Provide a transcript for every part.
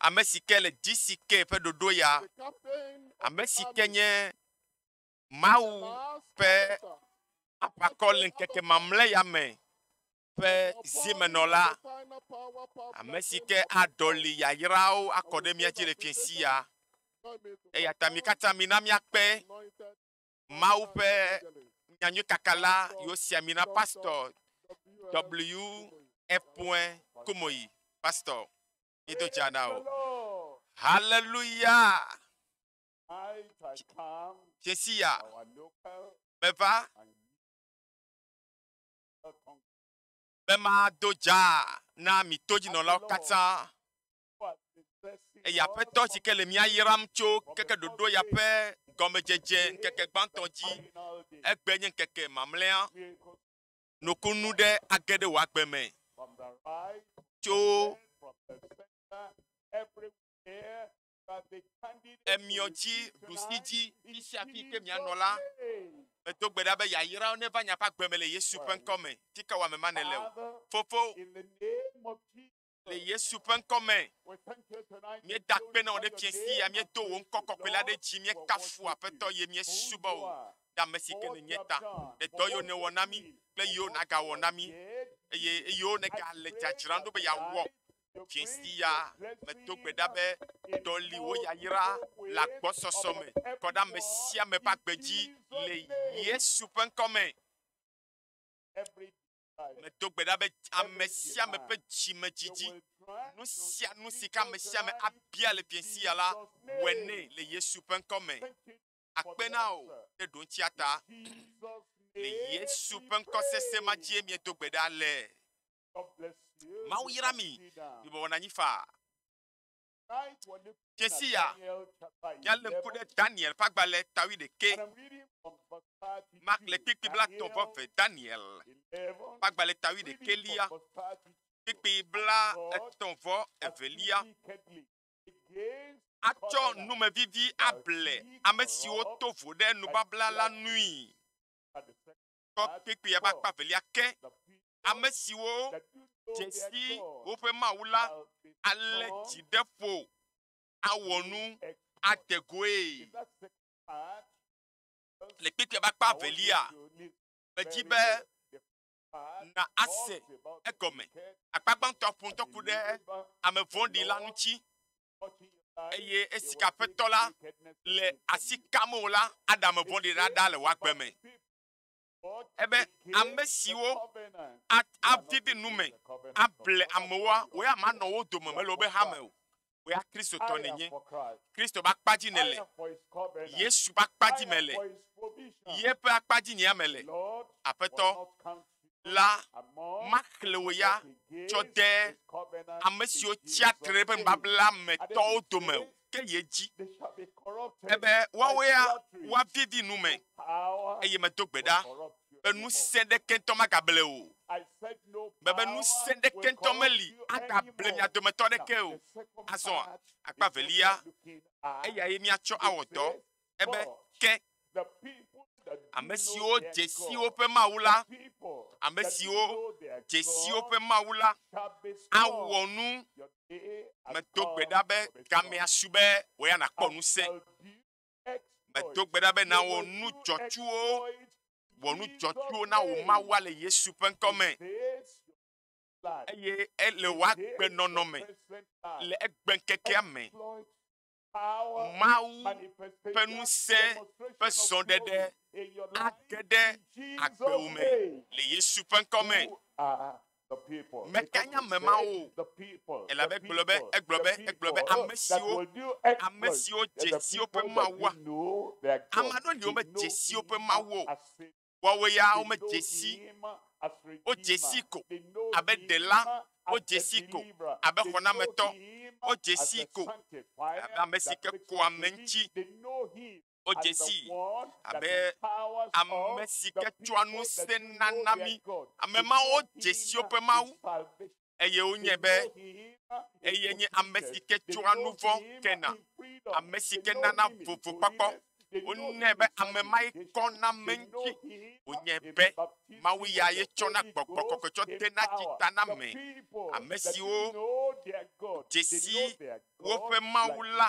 ame si ke le DCK ƒe ɖoɖo ya, ame si ke nye Mawu ƒe aʋakɔ le ŋkeke mamlɛ ya me ƒe zimenɔla, ame si ke aɖɔli yayrawo akɔ ɖe mía dzi le fiẽsi ya. Eya ta mi katã mina míakpe Mawu ƒe nyanyui kakala yo sia mina pastor W epoe komoyi pastor ido jana o hallelujah chesia meva be mado dza na mi todzinɔlawo katã Eya ƒe tɔ si ke le mía yram tso keke ɖoɖo ya ƒe gɔmedzedze ŋkeke gbãtɔ dzi. Egbe nye ŋkeke mamlea. Nukunu ɖe age ɖe wò agbe me tso emiɔ dzi ɖusi dzi fisia fi ke mianɔ la. Medo gbe ɖa be yayra wo neva nya ƒe agbe me le Yesu ƒe ŋkɔ me. Ti ke wɔame ma nele o. Fofo. Le Yesu ƒe ŋkɔ me, míeda akpe na wò ɖe fiesi ya, míedo wò ŋkɔ kɔkɔe la ɖe dzi, míekafu aƒetɔ ye míesubɔ wò ɖe ame si ke nènye ta, ɖe dɔ yiwo nèwɔ na mí kple yiwo nàgawɔ na mí, eye eyiwo nègale dzadzram ɖo be yeawɔ. Fiesi ya medo gbe ɖa be ɖɔli wò yayra le agbɔsɔsɔ me kɔ ɖe ame sia ame ƒe agbe dzi le Yesu ƒe ŋkɔ me. Medo gbe ɖa be ame sia ame ƒe dzimedzidzi, nu sia nu si ke ame sia ame abia le ƒie sia la, wɔe nɛ le Yesu ƒe ŋkɔ me. Akpe na o ɖe ɖoŋtsia ta. Le Yesu ƒe ŋkɔ sese ma dzie miedo gbe ɖa le. Mawu yra mi, mibɔbɔ na anyi faa. Dzesi ya, míalé ŋku ɖe Daniel ƒe agbalẽ tawui ɖekɛ. Makle kpikpi bla tɔ̃ vɔ ve Daniel ƒe agbalẽ tawui ɖekɛ lia, kpikpi bla etɔ̃ vɔ evelia. Atsɔ numevivi able ame siwo to vo ɖe nubabla la nui. kpekpea ƒe akpa velia ke. Ame siwo dze si woƒe Mawu la alé dzi ɖe ƒo, awɔ nu ade goe. Le kpekpea ƒe akpa velia, medi be na ase egɔme. Akpa gbãtɔa ƒo ŋutɔ ku ɖe ame vɔ̃ɖi la ŋuti. eye esi ke aƒetɔ la le asi kam o la, Adam vɔ̃ɖi ɖaɖa le woagbe me. Ebe ame siwo avidi nu me able amewoa, wòye ame anɔ wo dome mele wobe hame o. Wòye Kristotɔ nenye. Kristo ƒe akpa dzi nele. Yesu ƒe akpa dzi mele. Yeƒe akpa dzi nye ame le. Aƒetɔ, la, maxlẽ wò ya tsɔ de ame siwo tsia tre ɖe nubabla me tɔwo dome o, ke ye dzi ebe woawo ya woavivi nu me, eye medo gbe ɖa be ŋusẽ ɖeke ŋutɔ magable o. Mebe ŋusẽ ɖeke ŋutɔ meli agable mia dometɔ aɖeke o. Azɔa, akpa evelia, eyae míatsɔ awɔ dɔ. ebe ke ame siwo dze si woƒe Mawu la, ame siwo dze si woƒe Mawu la, awɔ nu. Medo gbe ɖa be gamea su be wò ya nàkpɔ ŋusẽ. Medo gbe ɖa be nawɔ nu dzɔtsuwo, wɔ nu dzɔtsuwo na wò Mawu le Yesu ƒe ŋkɔ me eye ele wòagbe nɔnɔ me le egbe ŋkekea me. Mawu ƒe ŋusẽ ƒe zɔɖeɖe age ɖe agbewo me le Yesu ƒe ŋkɔ me. Mekanya ame ma o, elabe gblɔ be egblɔ be egblɔ be ame siwo ame siwo dzesiwo ƒe mawu ame aɖewo li womedze esiwo ƒe mawu o. Woawoe ya womedze si wodze sii ko abe Ɖela, wodze sii ko abe Xɔnametɔ, wodze sii ko abe ame si ke kɔa ame ŋuti, wodze sii abe ame si ke tsɔa nu sena na mí. Ame mawo dze si woƒe Mawu. eye wonyae be eye nye ame si ke tsɔa nu vɔ̃ kena, ame si ke nana vovo kpɔkpɔ. Wonyae be ame ma ye kɔ na ame ŋuti. Wonyae be Mawu ya ye tsɔ na gbɔgbɔ kɔkɔe tsɔ de na dzi ta na ame. Ame siwo dzesi woƒe Mawu la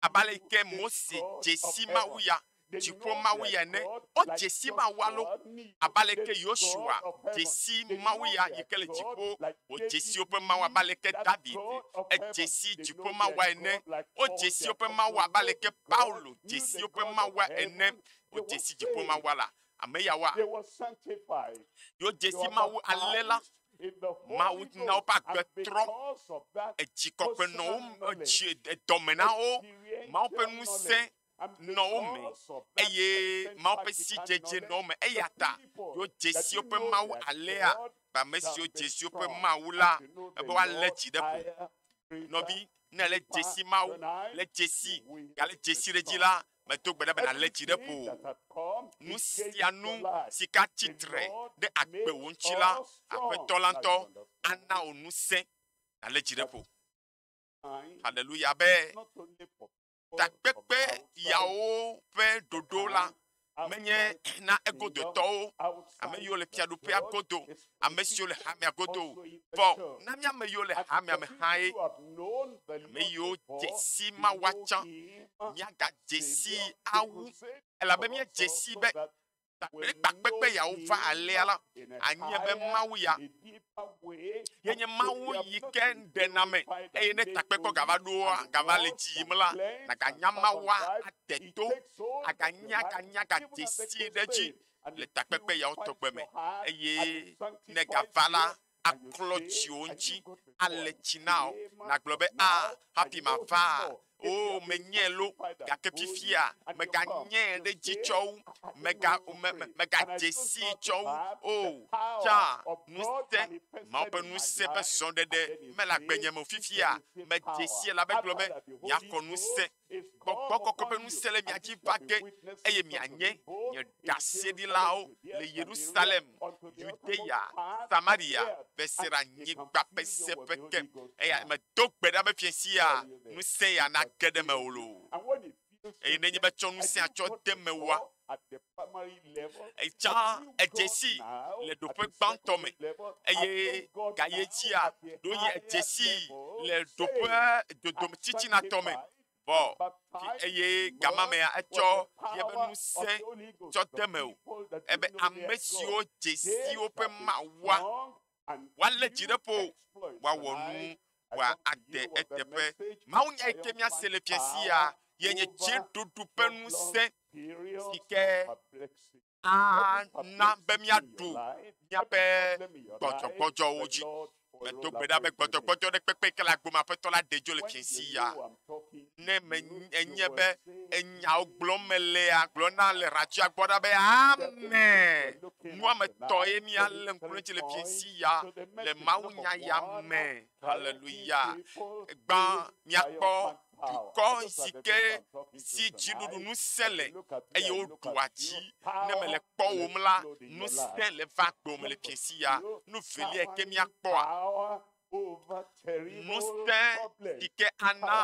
abe ale yi ke Mose dze si Mawu ya, dziƒo Mawu ya ene. Wodze si Mawu alo abe ale ke Yosua dze si Mawu ya yi ke le dziƒo. Wodze si woƒe Mawu abe ale ke David edze si dziƒo Mawua ene. Wodze si woƒe Mawu abe ale ke Paulo dze si woƒe Mawua ene. Wodze si dziƒo Mawua la Ame ya wa yewo dzesi Mawu ale la, Mawu na woƒe agbe trɔ, edzi kɔkɔe nɔ wo edzi edɔme na wo, Mawu ƒe ŋusẽ nɔ wo me eye Mawu ƒe sidzedze nɔ wo me eya ta yewo dzesi woƒe Mawu alea kpa ame siwo dzesi woƒe Mawu la ebe woalé dzi ɖe ƒo. Nɔvi, ne le dzesi Mawu le dzesi gale dzesi ɖe dzi la, Medo gbe ɖa be nàlé dzi ɖe ƒo. Nu sia nu si ka tsitre ɖe agbewò ŋuti la, Aƒetɔ la ŋutɔ ana wò ŋusẽ nàlé dzi ɖe ƒo. Haleluya be takpekpe yawo ƒe ɖoɖo la menye na egodotɔwo, ame yiwo le fiaɖuƒea godo ame siwo le hamea godo o. Vɔ na mía ame yiwo le hamea me hãe, ame yiwo dze sii mawua tsã, míagadze sii awu, elabe míedze sii be kpakple kpakpe gbe yeawo va alea la, anye be Mawu ya ye nye Mawu yi ke ɖena ame, eye ne takpekɔ gava ɖoa, gava le edzi yim la, nàganya Mawua ade to, aganya, aganya, agadze sii ɖe edzi. le takpekpe yawo tɔgbe me eye ne gava la aklɔ dziwò ŋuti ale tsi na wò nàgblɔ be a ah, hafi mava o oh, menyɛ lo gake fifia meganyɛ ɖe dzi tsɔ wu mega me, me, megadze si tsɔ wu o oh, tsã ŋusẽ mawo ƒe ŋusẽ ƒe srɔ̃ɖeɖe mele agbenye me fifia medze si la be gblɔ be nyakɔ ŋusẽ Gbɔgbɔ kɔkɔ ƒe ŋusẽ le mia dzi va ge, eye mianye nye ɖaseɖilawo le Yerusalem, Yudea, Samaria, Besera nyigba ƒe seƒe ke. Eya medo gbe ɖa be fiẽ sia ŋusẽ ya nage ɖe mewò loo. Eye nenye be tsɔ ŋusẽa tsɔ de mewòa, Etsã edze si le ɖoƒe gbãtɔ me eye gaye dzia ɖo yi edze si le ɖoƒe dodom tsitsinatɔ me vɔ eye gama mea etsɔ yeƒe ŋusẽ tsɔ de me o. Ebe ame siwo dze si woƒe mawua woalé dzi ɖe ƒo, woawɔ nu, woa ade eteƒe. Mawu nya yi ke míase le fia sia ye nye dziɖuɖu ƒe ŋusẽ si ke ana be míaɖu míaƒe gbɔdzɔgbɔdzɔwo dzi. Medo gbe ɖa be gbɔdzɔgbɔdzɔ ɖe kpekpe ke le agbo me aƒetɔ la ɖe dzo le fia sia. ne me enye be enyawo gblɔm melea gblɔ na le radio gbɔ ɖa be ame nuametɔ ye mi alé ŋkulɛtsi le fiesi ya le mawunya ya me haleluya gbã miakpɔ dukɔ si ke si dziɖuɖu ŋusẽ le eye woɖua dzi ne mele kpɔwom la ŋusẽ le va gbɔme le fiesi ya nu velia ke miakpɔa ŋusẽ yi ke ana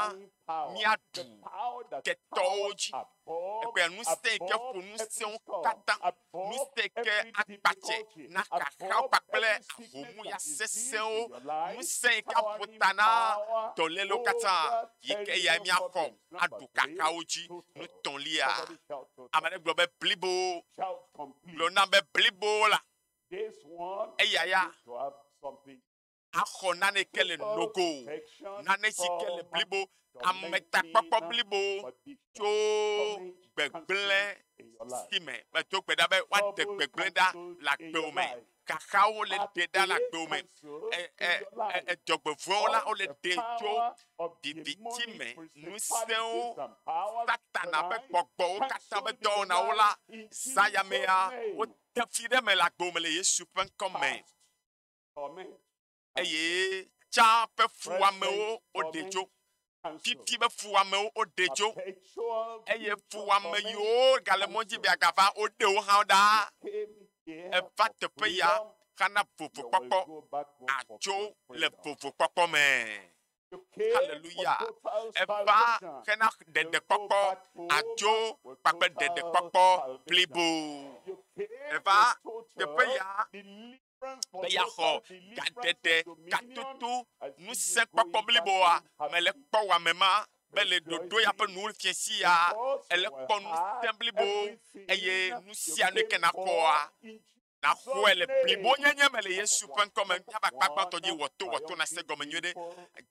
míaɖu ketɔwo dzi, egbe ŋusẽ yi ke ƒo nu sẽwo katã, ŋusẽ yi ke akpatse na xaxawo kpakple ahom ya sesẽwo, ŋusẽ yi ke aƒo ta na dɔlélewo katã yi ke yae míaxɔ aɖu xaxawo dzi. Nu etɔ̃lia, ame aɖe gblɔ be blibo, gblɔ nam be blibo la. eya ya axɔ naneke le nogo, nane si ke le blibo, ametakpɔkpɔ blibo tso gbegblẽ si me medo gbe ɖa be woade gbegblẽ ɖa le agbewo me. Xaxawo le ɖe ɖa le agbewo me. E, e, e, edzɔgbevɔ̃wo la, wole ɖe tso viviti me. Ŋusẽwo, Satana ƒe gbɔgbɔwo katã ƒe dɔwɔnawo la, zã yamea, Tafui ɖe me le agbo me le Yesu ƒe ŋkɔ me. Eye tsa ƒe fuwɔamewo woɖe dzo. Fifi be fuwɔamewo woɖe dzo. Eye fuwɔame yiwo gale mɔ dzi be agava woɖe wo hã ɖa. Eva teƒe ya xana vovokpɔkpɔ. Atso le vovokpɔkpɔ me. Haleluya! Eva hena ɖeɖekpɔkpɔ adzo kpakple ɖeɖekpɔkpɔ blibo. Eva teƒe ya be yeaxɔ gaɖeɖe, gatoto, ŋusẽkpɔkpɔ bliboa me le kpɔ wɔame ma be le ɖoɖo ya ƒe nuwo fiẽ sia ele kpɔ ŋusẽ blibo eye nu sia nu yi ke nakpɔa naxɔe le blibo nyenye me le Yesu ƒe ŋkɔ me. Míaƒe akpa gbãtɔ dzi wɔto wɔto nase gɔme nyuie ɖe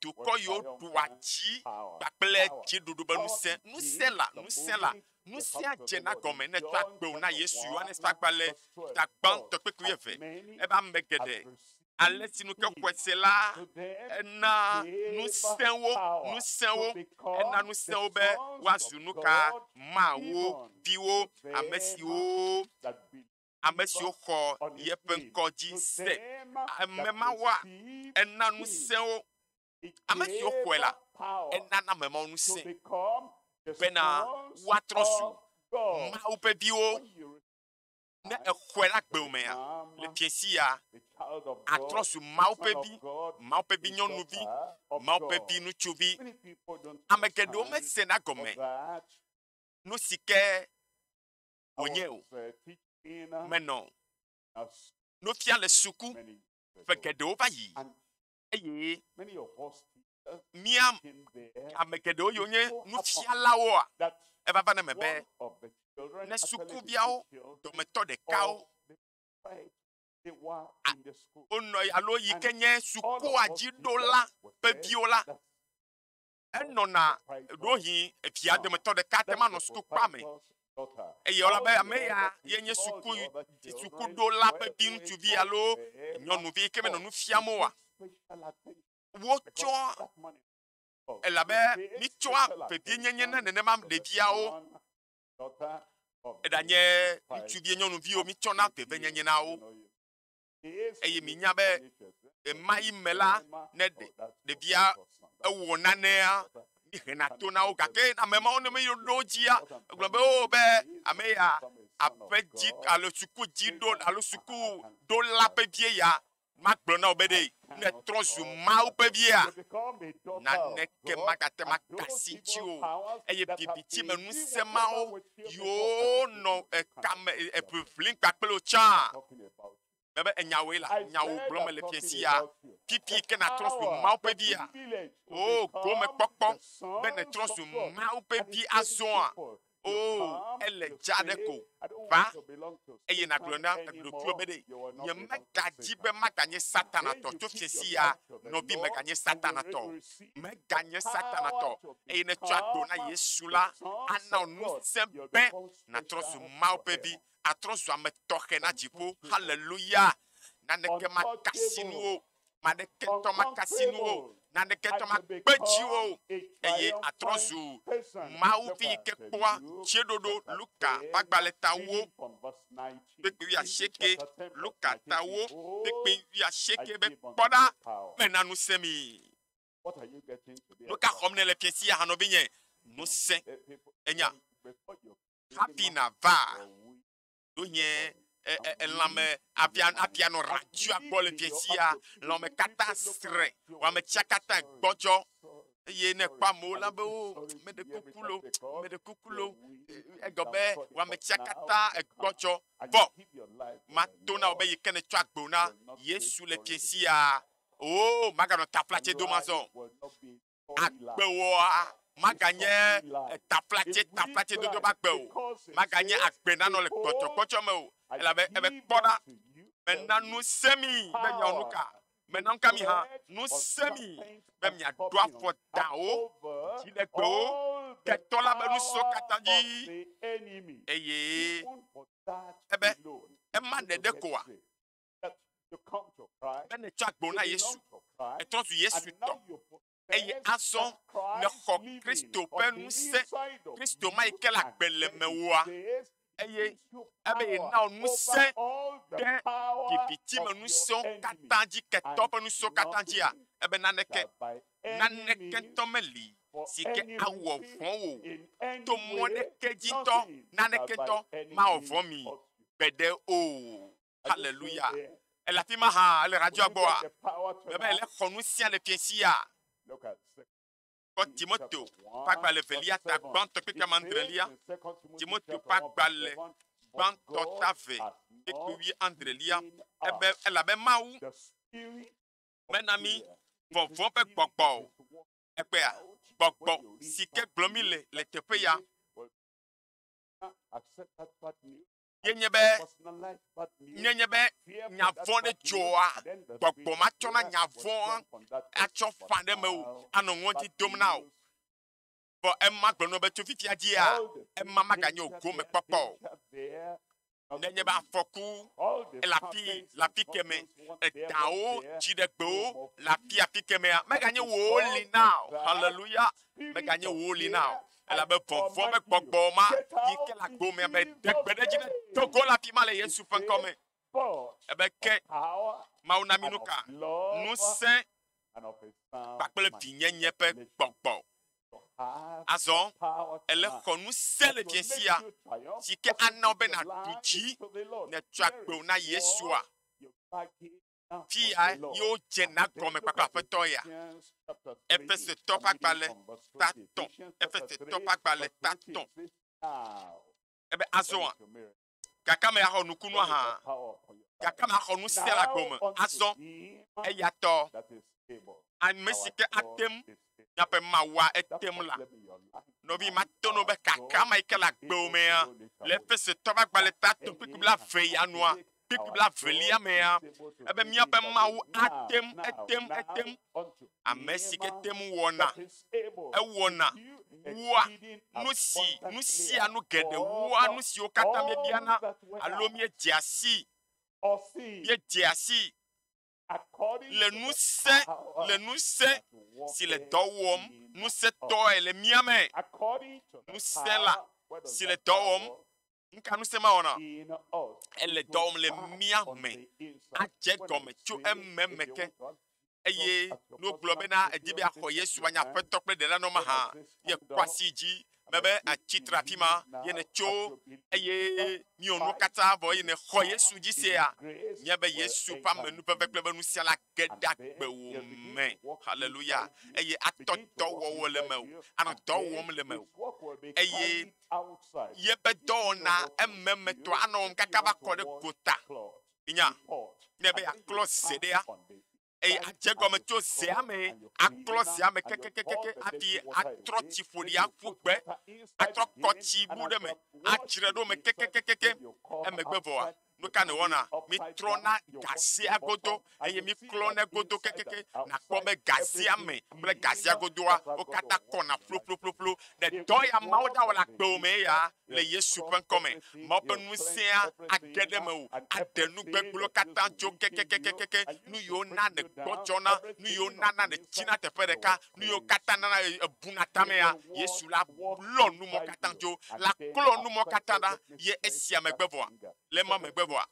dukɔ yiwo ɖua dzi kpakple dziɖuɖu be ŋusẽ, ŋusẽ la, ŋusẽ la, ŋusẽa dze na gɔme ne tsɔ akpewo na Yesu. Yohanes ƒe agbalẽ ta gbãtɔ kpekpe eve. Ebe ame geɖe ale si nu ke xɔe se la ena ŋusẽwo, ŋusẽwo, ena ŋusẽwo be woazu nu ka? Mawu viwo, ame siwo ame siwo xɔ yeƒe ŋkɔ dzi se. Ame ma wɔa ena ŋusẽwo. Ame siwo xɔe la, enana ame mawo ŋusẽ bena woatrɔ zu Mawu ƒe viwo. Ne exɔe la gbe omea, le fiẽ sia, atrɔ zu Mawu ƒe vi, Mawu ƒe vi nyɔnuvi, Mawu ƒe vi ŋutsuvi. Ame geɖewo mesena gɔme nu si ke wònye o. Menɔ nu fia le suku ƒe geɖewo va yi eye mía ame geɖewo yiwo nye nufialawoa eva va na eme be ne sukuviawo dometɔ ɖekawo wonɔ alo yi ke nye sukua dziɖola ƒe viwo la, enɔna ɖohi evia dometɔ ɖeka te manɔ sutukpea me eye wòla be ame ya ye nye suku sukuɖola ƒe viŋutsuvi alo nyɔnuvi yi ke menɔ nu fiam oa wotsɔa elabe mitsɔa vevienyenye na nenema ɖeviawo eɖanye ŋutsuvi nyɔnuviwo mitsɔ na vevienyenye na wo. eye minya be ɣemaɣi me la ne ɖevia ewɔ nanea mihena to na wo gake ame mawo ne meɖo ɖo dzia egblɔ be wo oh, be ame ya aƒe dzi alo suku dzi ɖo alo suku ɖo la ƒe vie ya magblɔ na wo be ɖe ne trɔ zu mawo ƒe via naneke magate makasi ŋuti o eye bibitsi me ŋusẽ mawo yiwo nɔ ekame eʋiʋlim kpakple wo tsã Mebe enyawoe la, nyawo gblɔm mele fia si ya. Fifi ke nàtrɔ zu Mawu ƒe via. O, gomekpɔkpɔ be nètrɔ zu Mawu ƒe vi azɔa. O, ele dza ɖe ko. Va, eye nàgblɔ na ɖokuiwò be ɖe nyemegadzi be maganye Satanatɔ tso fia si ya. Nɔvi meganye Satanatɔ. Meganye Satanatɔ. Eye netsɔ agbo na Yesu la, ana ŋusẽ be nàtrɔ zu Mawu ƒe vi. atrɔ zu ame tɔxɛ na dziƒo. Haleluya! Naneke makasi nu wo, naneke ŋutɔ makasi nu wo, naneke ŋutɔ makpe dzi wo, eye atrɔ zu Mawu vi yi ke kpɔa dzeɖoɖo. Luka ƒe agbalẽ tawo kpekpe wuiasieke, Luka tawo kpekpe wuiasieke be kpɔ ɖa mena ŋusẽ mi. Nu ka xɔm nèle fiẽ si aha nɔvinye? Ŋusẽ enya hafi nàva ɖo nye elãme avia avia nɔ radzia gbɔ le fiẽ sia. Lãme katã srẽ, wɔame tsia katã gbɔdzɔ eye ne kpɔ amewo la be wo meɖe kuku lo, meɖe kuku lo. Egɔ be wɔame tsia katã egbɔdzɔ vɔ. Mato na wò be yi ke nètsɔ agbe na Yesu le fiẽ sia. Oo, maganɔ taplatsɛ dom azɔ o. Agbewòa maganye taplatsɛ, taplatsɛ dodo ƒe agbe o. Maganye agbe nanɔ le kpɔtsɔkpɔtsɔ me o. Elabe ebe kpɔ ɖa, mena nu sẽ mi be miawɔ nu ka? Mena nu ka mi hã? Nu sẽ mi be miaɖo afɔ dãwo, dziɖegbewo, ketɔ la ƒe nu siwo katã dzi. Eye ebe ema ɖeɖe koa? be nètsɔ agbo na Yesu, ètrɔ zu Yesu tɔ, eye azɔ nèxɔ Kristo ƒe ŋusẽ, Kristo ma yi ke le agbe le mewòa, eye ebe yena wò ŋusẽ ɖe viviti me ŋusẽwo katã dzi, ketɔ ƒe ŋusẽwo katã dzia, ebe naneke, naneke ŋutɔ meli si ke awɔ vɔ̃ wò to mɔ ɖeke dzi ŋutɔ, naneke ŋutɔ mawɔ vɔ̃ mi gbeɖe o. Haleluya! Ele afi ma hã, ele radioa gbɔa, mebe ele xɔ nu sia le fiẽ sia. Kpɔ Timoto ƒe agbalẽ velia ta gbãtɔ kpekpe amandrelia, Timoto ƒe agbalẽ gbãtɔ ta ve kpekpe wi andrelia, ebe elabe Mawu mena mi vɔvɔ̃ ƒe gbɔgbɔ o. Ekpea gbɔgbɔ si ke gblɔ mi le le teƒe ya. yenye be nenye be nya vɔ̃ ɖe dzɔa gbɔgbɔ ma tsɔna nya vɔ̃ atsɔ fa ɖe me o anɔ ŋɔdzi dom na o vɔ ema gblɔ nɔ be tso fifia dzia ema maganye o gome kpɔkpɔ o nenye be afɔku ele afi le afi keme edawo dziɖegbewo le afi afi kemea meganye wòwo li na o haleluya meganye wòwo li na o elabe vɔvɔ̃ be gbɔgbɔ ma yi ke le agbo mea be de gbe ɖe edzi ne do go le afi ma le Yesu ƒe ŋkɔ me. Ebe ke Mawu na mi nu ka? Ŋusẽ kpakple vinyenye ƒe gbɔgbɔ. Azɔ ele xɔ ŋusẽ le vie sia si ke ana be nàɖu dzi nètsɔ agbewo na Yesua. Fi ya ye wodzena gɔme kpakple Aƒetɔ ya. Efesetɔ ƒe agbalẽ ta tɔ̃. Efesetɔ ƒe agbalẽ ta tɔ̃. Ebe azɔa, gake ame axɔ nukunua hã, gake ame axɔ nu sia le agɔme azɔ. Eya tɔ ame si ke ate ŋu nyaƒe mawua ete ŋu la. Nɔvi mate ŋu be kakama yi ke le agbewo mea le Efesetɔ ƒe agbalẽ ta tɔ̃ kpekpe la ve ya nua. kpekpe blaevelia mea, ebe míaƒe Mawu ate ŋu, ete ŋu, ete ŋu, ame si ke te ŋu wɔna, ewɔna, wua nu si, nu sia nu geɖe, wua nu siwo katã míebiana alo míedzea si, míedzea si le ŋusẽ, le ŋusẽ si le dɔ wɔm ŋusẽtɔe le mía me. Ŋusẽ la si le dɔ wɔm, nu ka ŋusẽ ma wɔna? Ele dɔ wɔm le mía me adze gɔme tso eme me ke eye ne wogblɔ bena edi be axɔ Yesu anye Aƒetɔ kple Ɖela nɔ mahã, yekɔ asi dzi mebe atsi tre afi ma ye nètso eye míwɔ nuwo katã vɔ eye nèxɔ Yesu dzi sea, míabe Yesu ƒe ame nuƒeƒe kple be nusia la ge ɖe agbewò me. Haleluya. Eye atɔ dɔwɔwɔ le me o, anɔ dɔ wɔm le me o. Eye yebe dɔwɔna ememetɔ anɔ wɔm kaka va kɔ ɖe gota. Nya, ne be yeaklɔ ze ɖea, eye adze gɔme tso zea me aklɔ zea me kekekekeke aɖi atrɔ tsi ƒoɖi aƒu gbe atrɔ kɔ tsi bu ɖe me adzre ɖo me kekekekeke emegbe vɔa nu ka ne wɔna mitrɔ na gazea godo eye miklɔ ne godo kekeke nakpɔ be gazea me kple gazea godoa wo katã kɔna ƒloƒloƒloƒlo ɖe dɔ ya mawo dawɔla gbewo me ya le Yesu ƒe ŋkɔ me. Mawu ƒe ŋusẽa age ɖe mewò, aɖe nu gbegblẽwo katã tso kekekekeke, nu yiwo na nègbɔdzɔna, nu yiwo nana nètsina teƒe ɖeka, nu yiwo katã nana èbuna tamea. Yesu la lɔ nu mɔ katã dzo, laklɔ nu mɔ katã ɖa, ye esia megbe vɔa. le mɔ megbe vɔa,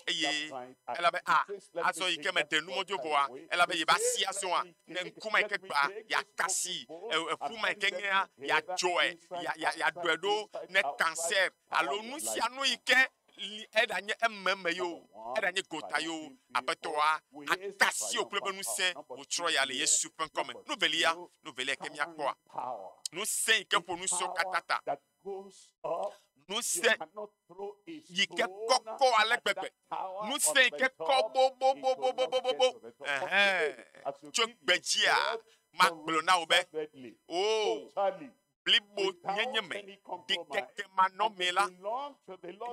eye ela be a azɔ yi ke meɖe nu mɔdzo vɔa, ela be yeva si azɔa, ne ŋku ma yi ke gbea, ya kasi eƒu ma yi ke nyea, ya dzɔe, ya ya ya ɖɔe ɖo ne kansɛ alo nu sia nu yi ke li eɖanye ememe yo, eɖanye gota yo, aƒetɔa akasi wò kple be ŋusẽ wòtsrɔ̃ ya le Yesu ƒe ŋkɔ me. Nu velia, nu velia yi ke miakpɔa, ŋusẽ yi ke ƒo nu sɔ katã ta. ŋusẽ yi ke kɔkɔ ale gbegbe, ŋusẽ yi ke kɔ bobobobobobobo, ɛhɛn, tso gbedzia, magblɔ na wò be, o, blibo nyenye me, ɖikeke manɔmee la,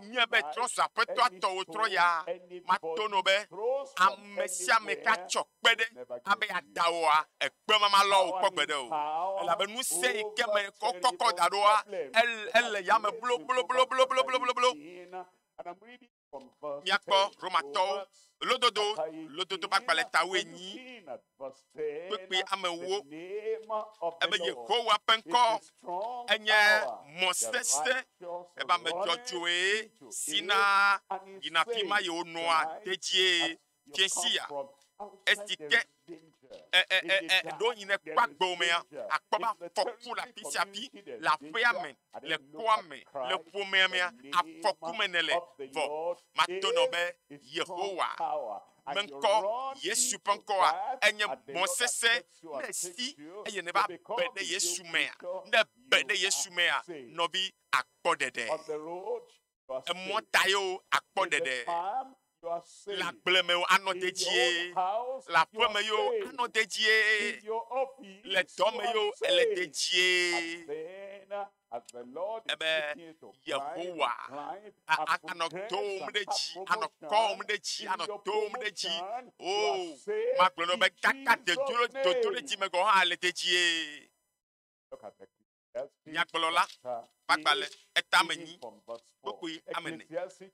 nye be trɔza aƒetɔa tɔwò trɔ ya, mato nɔ be, ame sia ame katsɔ kpe ɖe abe yeadawɔa ekpemama lɔwo kpɔ gbeɖe o. Elabe nu sia yi ke me kɔkɔkɔ da ɖoa, ele yame blobloblobloblobloblo. Míakpɔ Romatɔwo lododo, lododo ƒe agbalẽta wuienyi, kpekpe amewo. Ebe Yehowa ƒe ŋkɔ enye mɔ sesẽ, ebe ame dzɔdzɔe si na yina afi ma yewonɔa tedie. Jesia, esi ke ɖo yi ne kpɔ agbewo mea, akpɔ be afɔku le afi sia afi, le aƒea me, le kɔa me, le ƒomea mea, afɔku me ne le. Vɔ, mato nɔ be Yehowa ƒe ŋkɔ, Yesu ƒe ŋkɔa, enye mɔ sesẽ ne si eye ne va be ɖe Yesu mea, ne be ɖe Yesu mea, nɔvi akpɔ ɖeɖe. emɔ ta yewo akpɔ ɖeɖe. Le agble me yewo anɔ dedie, le aƒe me yewo anɔ dedie, le dɔ me yewo ele dedie. Ebe Yehowa anɔ tom ɖe dzi, anɔ kɔm ɖe dzi, anɔ tom ɖe dzi. O, magblɔ nɔ be kaka dedolo dodo ɖe dzi me gɔ̃ hã le dedie. Nyagblɔla ƒe agbalẽ eta me nyi kpekpui ame ene.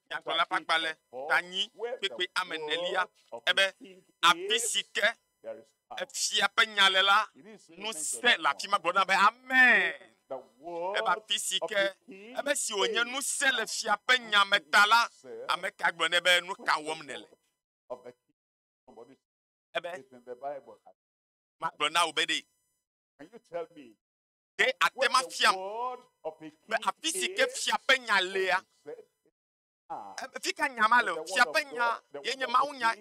Nyagblɔla ƒe agbalẽ ta nyi kpekpui ame enelia ebe, Afi si ke efia ƒe nya le la, ŋusẽ le afi ma gblɔna be, Amen. Ebe afi si ke ame si wònye ŋusẽ le fia ƒe nya me ta la, ame ka gblɔ nɛ be, Nu ka wɔm nèle? Ebe, Magblɔ na wò be ɖe. Ɖe àte ŋu afiam be afi si ke fia ƒe nya lea, fi ka nya ma le? Fia ƒe nya ye nye mawunya.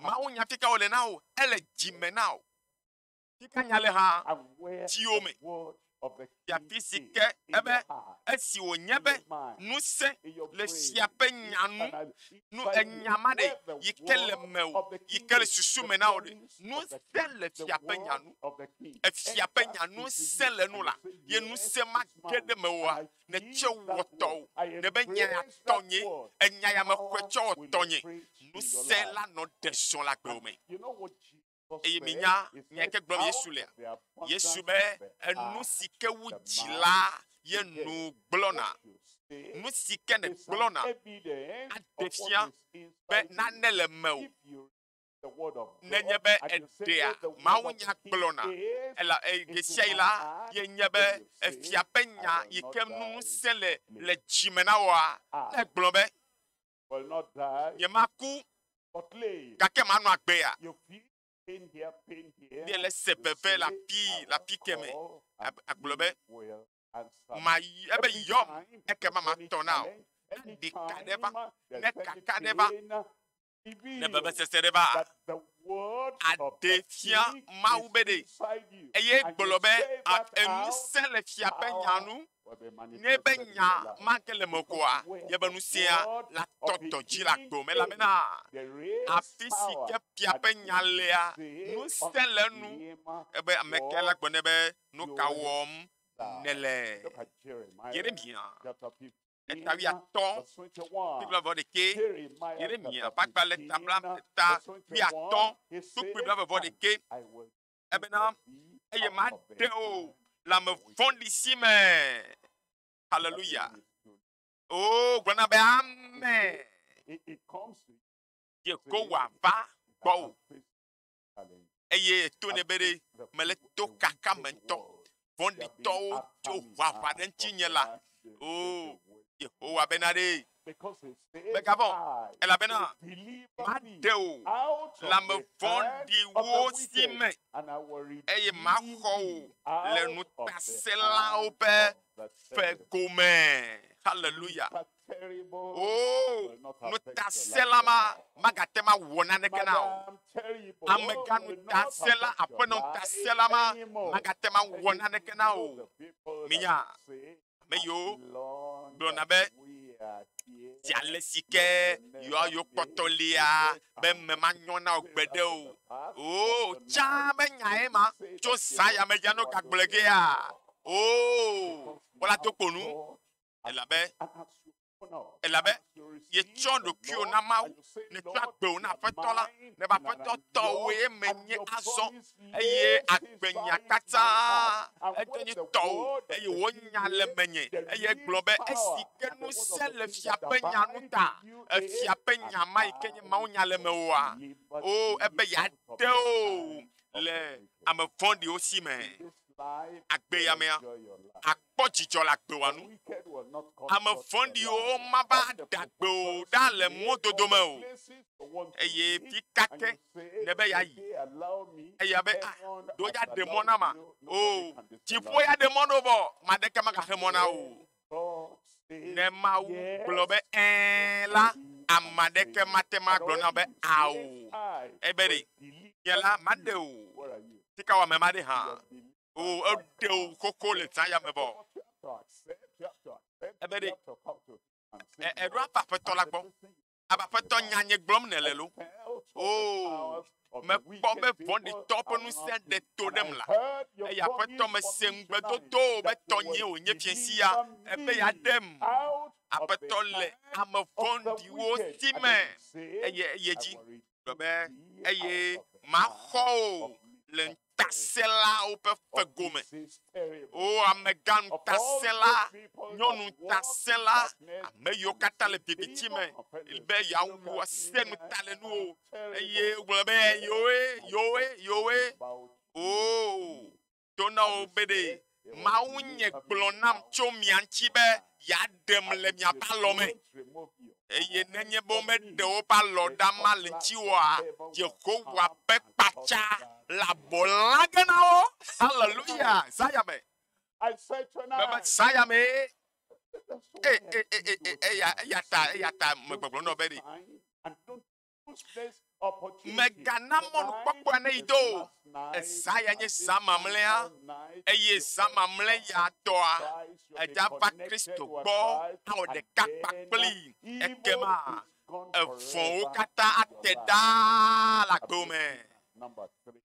Mawunya fi ka wòle na wò? Ele dzi me na wò. Fi ka nya le hã? Dziwò me. Fia fi si ke ebe esi wònye be ŋusẽ le fia ƒe nya nu nu enya ma ɖe yi ke le mewò yi ke le susu me na wò ɖe nu se le fia ƒe nya nu efia ƒe nya nu se le nu la ye nu se ma ge ɖe mewòa ne tse wɔ tɔwò ne be nya ya tɔ nye enya ya me xɔe tse wɔ tɔ nye nu se la nɔ ɖe srɔ̃ la gbewo me. Eye minya nya ke gblɔm Yesu lea? Yesu be enu si ke wu dzi la ye nu gblɔna. Nu si ke ne gblɔna aɖe fia be nane le mewò. Nenye be eɖea mawu nya gblɔna, ela eye sia yi la ye nye be efia ƒe nya yi ke nu ŋusẽ le le dzime na wɔa, ne gblɔ be Nyemaku, gake manɔ agbea. Míele se veve le afi le afi ke me. Agblɔ be, mayi ebe yɔm ekema matɔ na o. Ne ɖeka ɖe va, ne kaka ɖe va, ne vevesese ɖe va, aɖe fia Mawu be ɖe eye gblɔ be enu se le fia ƒe nya nu. Nye be nya ma ke le me koa? Nye be nu sia la tɔtɔ dzi le agbo me, elabena afi si ke fia ƒe nya lea, ŋusẽ le enu. Ebe ame ke la gblɔ nɛ be, Nu ka wɔm nèle? Yeremia eta wuiatɔ kple vɔ ɖekɛ. Yeremia ƒe agbalẽ ta bla ta wuiatɔ kple vɔ ɖekɛ. ebena eye maɖe o le ame vɔ̃ɖi si me haleluya o oh, gblɔ na be ame yehowa va gbɔ o eye to ne be ɖe mele to kaka me ŋutɔ vɔ̃ɖitɔwo tso ʋaʋã ɖe ŋutinye la, o Yehowa bena ɖee, megavɔ̃, elabena maɖe wò le ame vɔ̃ɖiwo si me, eye maxɔ wò le ŋutasẽlawo ƒe fe gome. Haleluya! Oo, nutasela ma magate ŋu awɔ naneke na o. Amegã nutasela, aƒenɔ nutasela ma magate ŋu awɔ naneke na o. Minya ame yiwo gblɔna be zi ale si ke yewoa yewo kpɔtɔ lia be eme manyɔ na wò gbeɖe o. Oo, tsã be nyae ma tso zã ya me ya ne wogagblɔe gea. Oo, wɔla dokponu. elabe elabe yetsɔ ɖokuiwo na Mawu, netsɔ agbewo na Aƒetɔ la, ne be Aƒetɔ tɔwoe menye azɔ, eye agbenya katã edo nye tɔwo, eye wonya le menye, eye gblɔ be esi ke ŋusẽ le fia ƒe nya nu ta, efia ƒe nya ma yi ke nye Mawu nya le mewòa, o oh, ebe yeade wo le ame vɔ̃ɖiwo si me. Agbe ya mea, kpɔ dzidzɔ le agbewɔa nu. Ame vɔ̃ɖiwo mava ɖe agbe o ɖa le mɔdodo me o. Eye fi ka ke nèbe yeayi? Eya be, ah, ɖo yeaɖe mɔ na ma. O, dziƒo ya ɖe mɔ ɖo vɔ, maɖeke magaxe mɔ na o. Ne Mawu gblɔ be ẽ la, ame aɖeke mate ŋu agblɔ na be ao. Ebe ɖe nye la, maɖe o. Sikawɔame maɖe hã. O eɖe o koko le ta ya me bɔ. Ebe ɖe eɖo aba aƒetɔ la gbɔ. Aba aƒetɔ nya nye gblɔm ne le lo. O mekpɔ be vɔɖitɔ ƒe ŋusẽ ɖe to ɖem la. Eye aƒetɔ mese ŋugbedodo be tɔnye wònye fiasia ebe yeaɖem. Aƒetɔ le ame vɔ̃ɖiwo si me eye eye dzi. gblɔ be, eye maxɔ wò le ŋutasẽlawo ƒe fego me. O amegã ŋutasẽla, nyɔnu ŋutasẽla, ame yiwo katã le viviti me be yeawu ase nu ta le nuwo eye gblɔ be yewoe, yewoe, yewoe. O do na wo be ɖe Mawu nye gblɔ nam tso mia ŋuti be yeaɖem le miaƒe alɔ me. Eye nenye be womeɖe woƒe alɔ ɖa ma le ŋutiwoa, Yehowa ƒe kpatsa le abɔ lã ge na wo. Haleluya! Zaya me. Mebe zaya me. Eya ta, eya ta, megbɔgblɔ nɔ be ɖe. Mègana mɔnukpɔkpɔa neyi do o. Ezã ya nye zã mamlɛa, eye zã mamlɛ ya tɔa, èdza va Kristo gbɔ awɔ ɖeka kpakpli. Ekema evɔ̃wo katã ate ɖaa le agbewo me.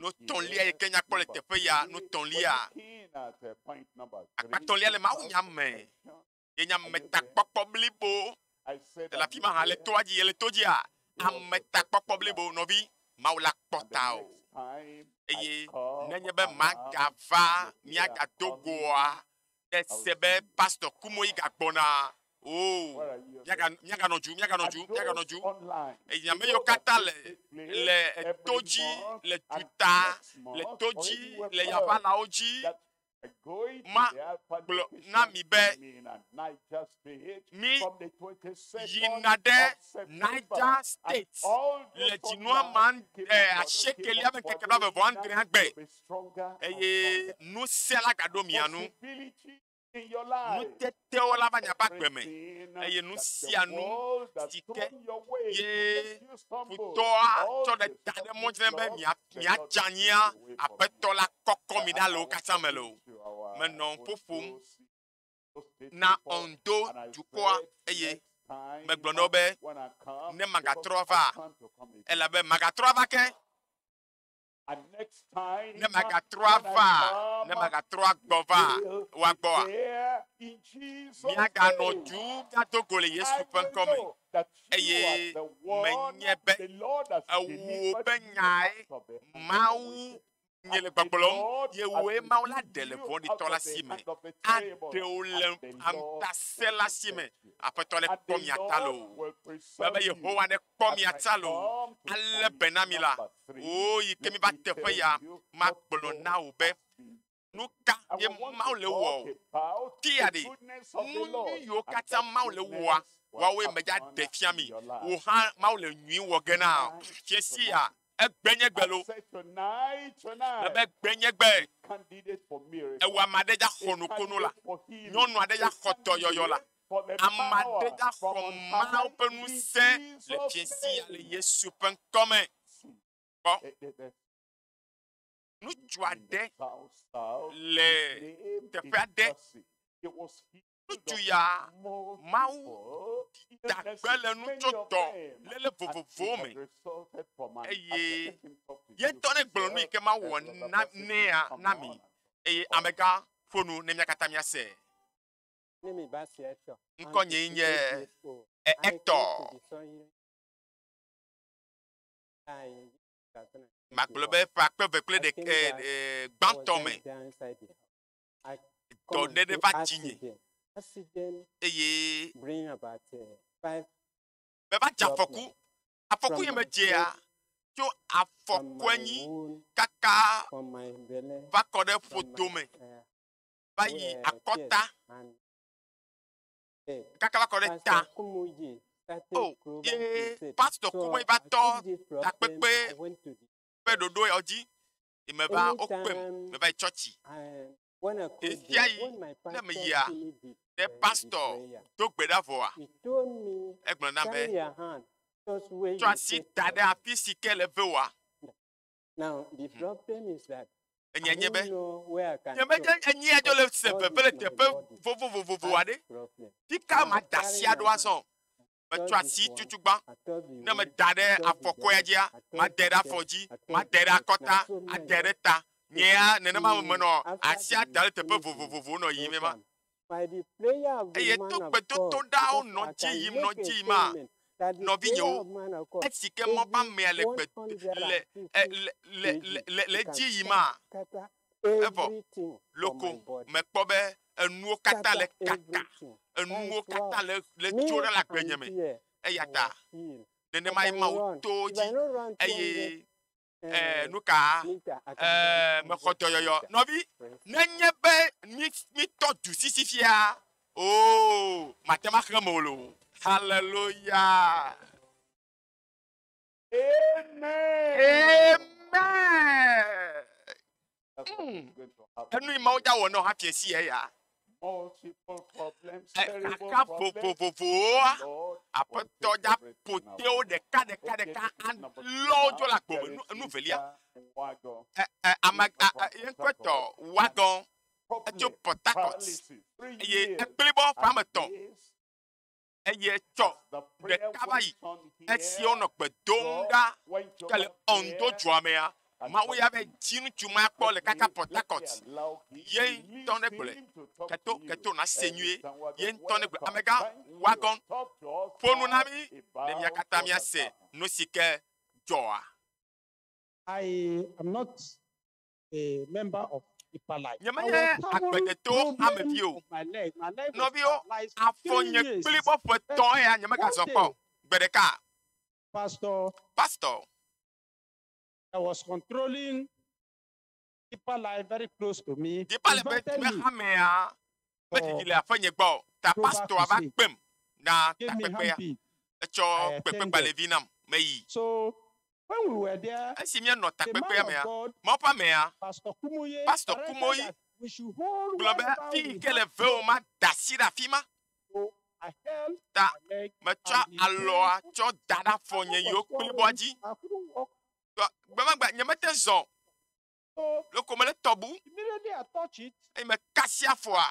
Nutɔ̃lia yi ke nyakpɔ le teƒe ya, nutɔ̃lia, akpatɔ̃lia le mawunya me. Yenye ametakpɔkpɔ blibo. Ele afi ma hã, le toa dzi, ele to dzia, ametakpɔkpɔ blibo nɔvi, Mawu la kpɔ tao. Eye nenye be magava miagado goa, ɖe se be pastor Kumoyi gagbɔna, o, oh, miaganɔ dzu, miaganɔ dzu, miaganɔ dzu. Eye ame yiwo katã le, le to dzi, le duta, le to dzi, le yavalawo dzi, magblɔ na mi be mi yina ɖe Niger State le dzinua ma asiekelia ƒe ŋkeke blaeve vɔ adrea gbe eye ŋusẽ la gaɖo mia nu. Nutete te wo la va nya ƒe agbe me, eye nu sia nu si ke ye futɔa tsɔ ɖe ta ɖe mɔ dzi be miadze anyia aƒetɔ la kɔkɔ mi ɖa le wo katã me le o. Menɔ ƒo ƒom na Ondo dukɔa eye megblɔ na wo be ne magatrɔ va elabe magatrɔ va ke ne magatrɔ ava ne magatrɔ agbɔ va wa gbɔa miaganɔ du gado go le yesu ƒe ŋkɔ me eye menye be ewuwo ƒe nyae mawu nye le gbɔgblɔm ye woe mawu la ɖe le vɔɖitɔ la si me aɖe wo le aŋutasela si me aƒetɔ le kpɔ mia ta lo be yehowa ne kpɔ mia ta loo, alé be na mi la, oo, yi ke mi va teƒe ya, magblɔ na wò be, nu ka ye Mawu le wɔ o. Tia ɖi, nu nyui yiwo katã Mawu le wɔa, woawoe medza ɖe fia mi. Wò hã Mawu le nyui wɔ ge na fia sia. Egbe nye gbe lo. Mebe gbe nye gbe. Ewa ame aɖe dza xɔ nukunu la. Nyɔnu aɖe dza xɔ dɔyɔyɔ la. Ame aɖe dza xɔ Mawu ƒe ŋusẽ le fiesi ya le Yesu ƒe ŋkɔ me. Kpɔ. Ŋutsu aɖe le teƒe aɖe. Nutu ya Mawu dagbe le nutsotɔ lele vovovowo me eye yetɔ ne gblɔ nu yi ke Mawu wɔ na nea na mi eye amegã ƒo nu ne mía katã míase. Ŋkɔ nye nye etɔ. Magblɔ be ƒe akpe eve kple ɖeke gbãtɔ me. dɔɖeɖe va dzinye eye meva dze afɔku. Afɔku yi medzea tso afɔku anyi kaka va kɔ ɖe ƒodo me va yi akɔta kaka va kɔ ɖe ta. O ye pastor kuboe va tɔ takpekpe ƒe ɖoɖo ya dzi. yi meva wokpem meva yi tsɔtsi ɣesia ɣi ne meyia ne pastɔ do gbe ɖa vɔa egblɔ na be tsɔ asi da ɖe afi si ke le ve wa enye nye be nyemedze enyia dzo le se veve le teƒe vovovovovo aɖe ti ka ma da asi aɖo azɔ Metsɔ asi tutugbã ne meda ɖe afɔkɔea dzia, madae ɖe afɔ dzi, madae ɖe akɔta, adae ɖe ta. Nye ya nenema me menɔ asia da ɖe teƒe vovovowo nɔ yiyim ema. Eye to gbedodoɖawo nɔ dzi yim nɔ dzi yim maa, nɔvinyewo, esi ke mɔ ƒe amea le gbe le le le le le edzi yim maa, Evɔ loko mekpɔ be enuwo katã le kaka, enuwo katã le le tso ɖe le agbenye me. Eya ta nenema ye Mawu to dzi eye eh, nu ka eh, mexɔ dɔyɔyɔ. Nɔvi, nenye be mi mi tɔ du sisi fia, o oh, mate ma xlẽ me o. Haleluya. Amen. Enu yi mawo dza wɔ nɔ hafi esi ya ya. Eka vovovovowoa aƒetɔ dza potewo ɖeka ɖeka ɖeka alɔwo dzo le agbo me nu nu velia. Ɛ- ɛ, Ame yɛnkɔtɔ wadɔn etso Port Harcourt eye ekplibɔ ƒe ame etɔ̃ eye etsɔ ɖeka va yi esi wonɔ gbe dom ɖa ke le Ondo dua mea mawu ya be dzi ŋutsu ma kpɔ le kaka Port Harcourt ye ŋutɔ ne gblɔe keto keto na se nyuie ye ŋutɔ ne gblɔ amegã wagɔn ƒo nu na mi ne mia katã mia se nu si ke dzɔa. I am not Nyemenye agbledeto ame vi o. Nɔviwo, afɔ nye kplibɔ ƒe tɔ ya nyemegazɔ kpɔ. Gbe ɖeka. Pastor. Pastor. I was controlling deeper life very close to me. Deeper life ƒe hamea ƒe ɖiɖi le aƒe nye gbɔ. Ta pastor va kpem na takpekpea. Etsɔ kpekpegbalẽvi nam meyi. So Esi míenɔ takpekpea mea, Mawu ƒe amea, Pastor Kumuyi, gblɔ be afi yi ke le veo mada asi ɖe afi ma ta metsɔ alɔa tsɔ da ɖe afɔ nye yiwo kplibɔa dzi. Gbemagbe nyemete zɔ Loko mele tɔbu. Eye mekasi afɔa.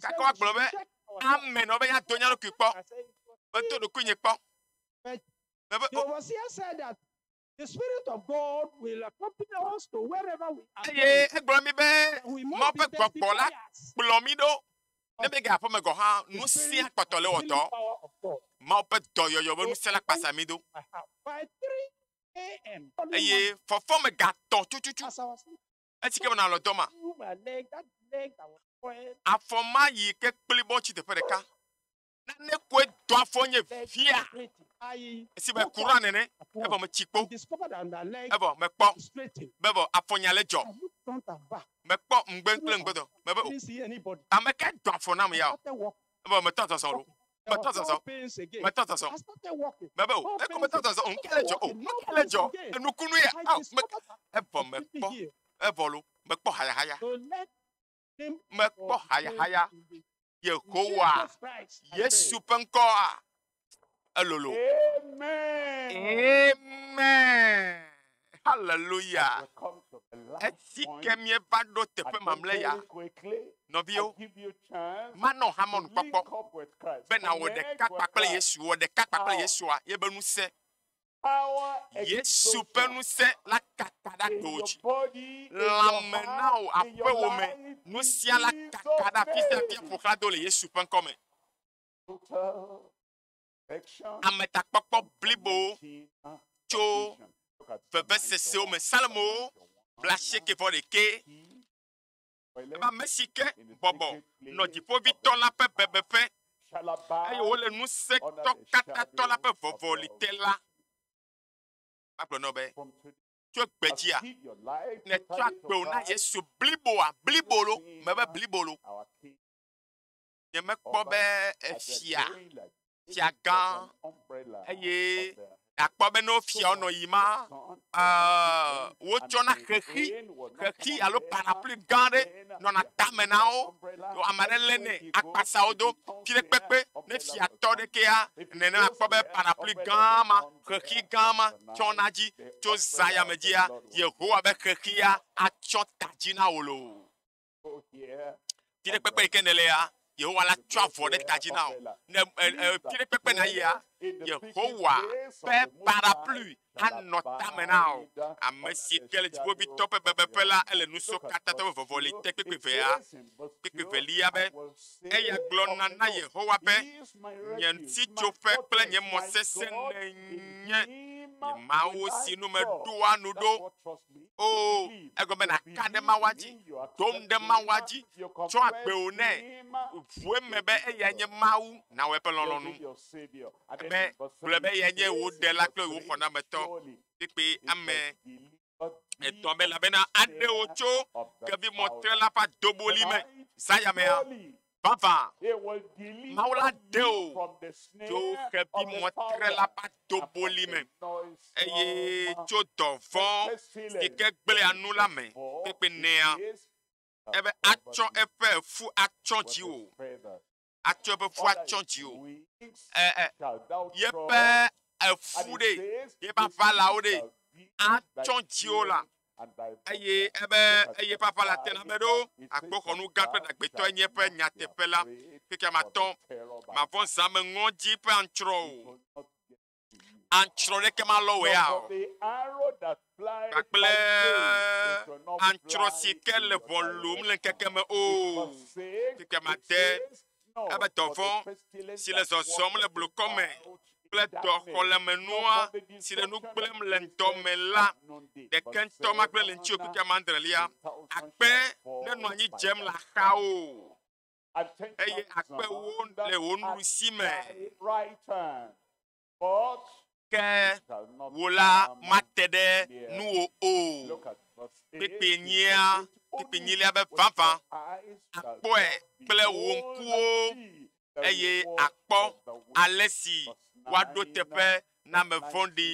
Gake woagblɔ be, Amen wɔ be yeado nya ɖokui kpɔ. Medo ɖokui nye kpɔ. Mebe o. Eye egblɔ mi be Mawu ƒe gbɔgbɔ la kplɔ mi ɖo. Ne mege aƒe me gɔ̃ hã, nu sia kpɔtɔ le wɔtɔ. Mawu ƒe dɔyɔyɔ be ŋusẽ la kpasa mi do. eye fɔfɔ me gatɔ tututu esi ke menɔ dɔ ma afɔ ma yi ke kpli bɔ tsi teƒe ɖeka nane koe do afɔ nye via esi be kura nene evɔ metsi kpo evɔ mekpɔ be vɔ afɔ nya le dzɔ mekpɔ ŋgbe kple ŋgbedɔ mebe o ame kae do afɔ nam ya o Eva meta zazã o. Meta zazã. Meta zazã. Mebe o. Eko meta zazã o. Nuka le dzɔ o. Nuka le dzɔ. Enukunu ya. Aw. Me. Evɔ mekpɔ. Evɔ lo. Mekpɔ hayahaya. Mekpɔ hayahaya. Yehowa. Yesu ƒe ŋkɔa. Elolo. Amen. Haleluya. Esi ke míeva ɖo teƒe mamlɛ ya, nɔviwo, manɔ hamɔnu kpɔkpɔ be nawɔ ɖeka kpakple Yesu, wɔ ɖeka kpakple Yesua, ye be ŋusẽ. Yesu ƒe ŋusẽ la kaka ɖe aɖewo dzi. Lãme na wò aƒewome, nu sia la kaka ɖe afi sia afi ƒo xlã do le Yesu ƒe ŋkɔ me. ametakpɔkpɔ blibo tso vevesesewo me. Salmo blaasieke vɔ ɖekɛ. Ebe ame si ke bɔbɔ nɔ dziƒovitɔ la ƒe bebeƒe eye wole ŋusẽtɔ katã tɔ la ƒe vɔvɔli te la. Agblɔ nɔ be tso gbedzia nètsɔ agbewo na Yesu bliboa blibolo mebe blibolo. Nyemekpɔ be efia, fiagã, eye nakpɔ be ne wofia wonɔ yi ma, uh, wotsɔna xexi, xexi alo parapluie gã aɖe nɔna tame na wo. Ame aɖe lé nɛ akpasa wo do. Fi ɖe kpekpe ne fia tɔ ɖekea, nene akpɔ be parapluie gã ma, xexi gã ma tsɔna dzi tso zã yame dzia, Yehowa be xexia atsɔ ta dzi na wò loo. Ti ɖe kpekpe yi ke nèle ya, Yehowa la tsɔ avɔ ɖe ta dzi na wò. Ne ti ɖe kpekpe na yia, Yehowa ƒe parapluie anɔ tame na wò. Ame si ke le dziƒoʋĩtɔ ƒe bebeƒe la, ele nu sɔ katã tɔ be vɔvɔ li te kpekpevea, kpekpevelia be, eya gblɔna na Yehowa be, Nye ŋutitsoƒe kple nye mɔ sesẽ nènye, nye Mawu si nu meɖoa nu ɖo. Oo, egɔme nàka ɖe Mawua dzi, tom ɖe Mawua dzi, tsɔ agbewò nɛ, ʋu eme be eya nye Mawu, nàwɔ eƒe lɔlɔ̃nu. Be, gblɔ be eya nye wò ɖela kple wò xɔnametɔ, kpekpe ame etɔ̃ me, elabena aɖe wò tso kevimɔtrela ƒe adoboli me, zã yamea. Vavã, Mawu la ɖe wò tso xevi mɔtrela ƒe adoboli me, eye tso dɔvɔ̃ si ke gblẽa nu la me kpekpenea, ebe atsɔ eƒe fu atsyɔ dziwò, atsɔ eƒe fu atsyɔ dziwò, yeƒe efu ɖe, yeƒe aʋalawo ɖe, atsɔ dziwò la. eye ebe eye eƒe aƒe la te na me ɖo akpoxɔnu gã kple ɖagbetɔe nye eƒe nyateƒe la keke matɔ mavɔ zame ŋɔdzi ƒe antsrɔ o antsrɔ ɖeke malɔ wea o kpakple antsrɔ si ke le ʋɔ lom le ŋkeke me o keke mate ebe dɔvɔ̃ si le zɔzɔm le blukɔ me kple dɔxɔlemenua si le nu gblẽm le ŋdɔ me la ɖeke ŋutɔ ma gblẽ le ŋuti o keke amadrelia. Akpe nenɔ anyi dzem le axawo eye akpewo le wo nuɖusi me. Ke wò la, mate ɖe nuwò o. Kpekpe nyia, kpekpe nyilia be vavã, àkpɔe kple wò ŋkuwo, eye àkpɔ ale si woaɖo teƒe na ame vɔ̃ɖi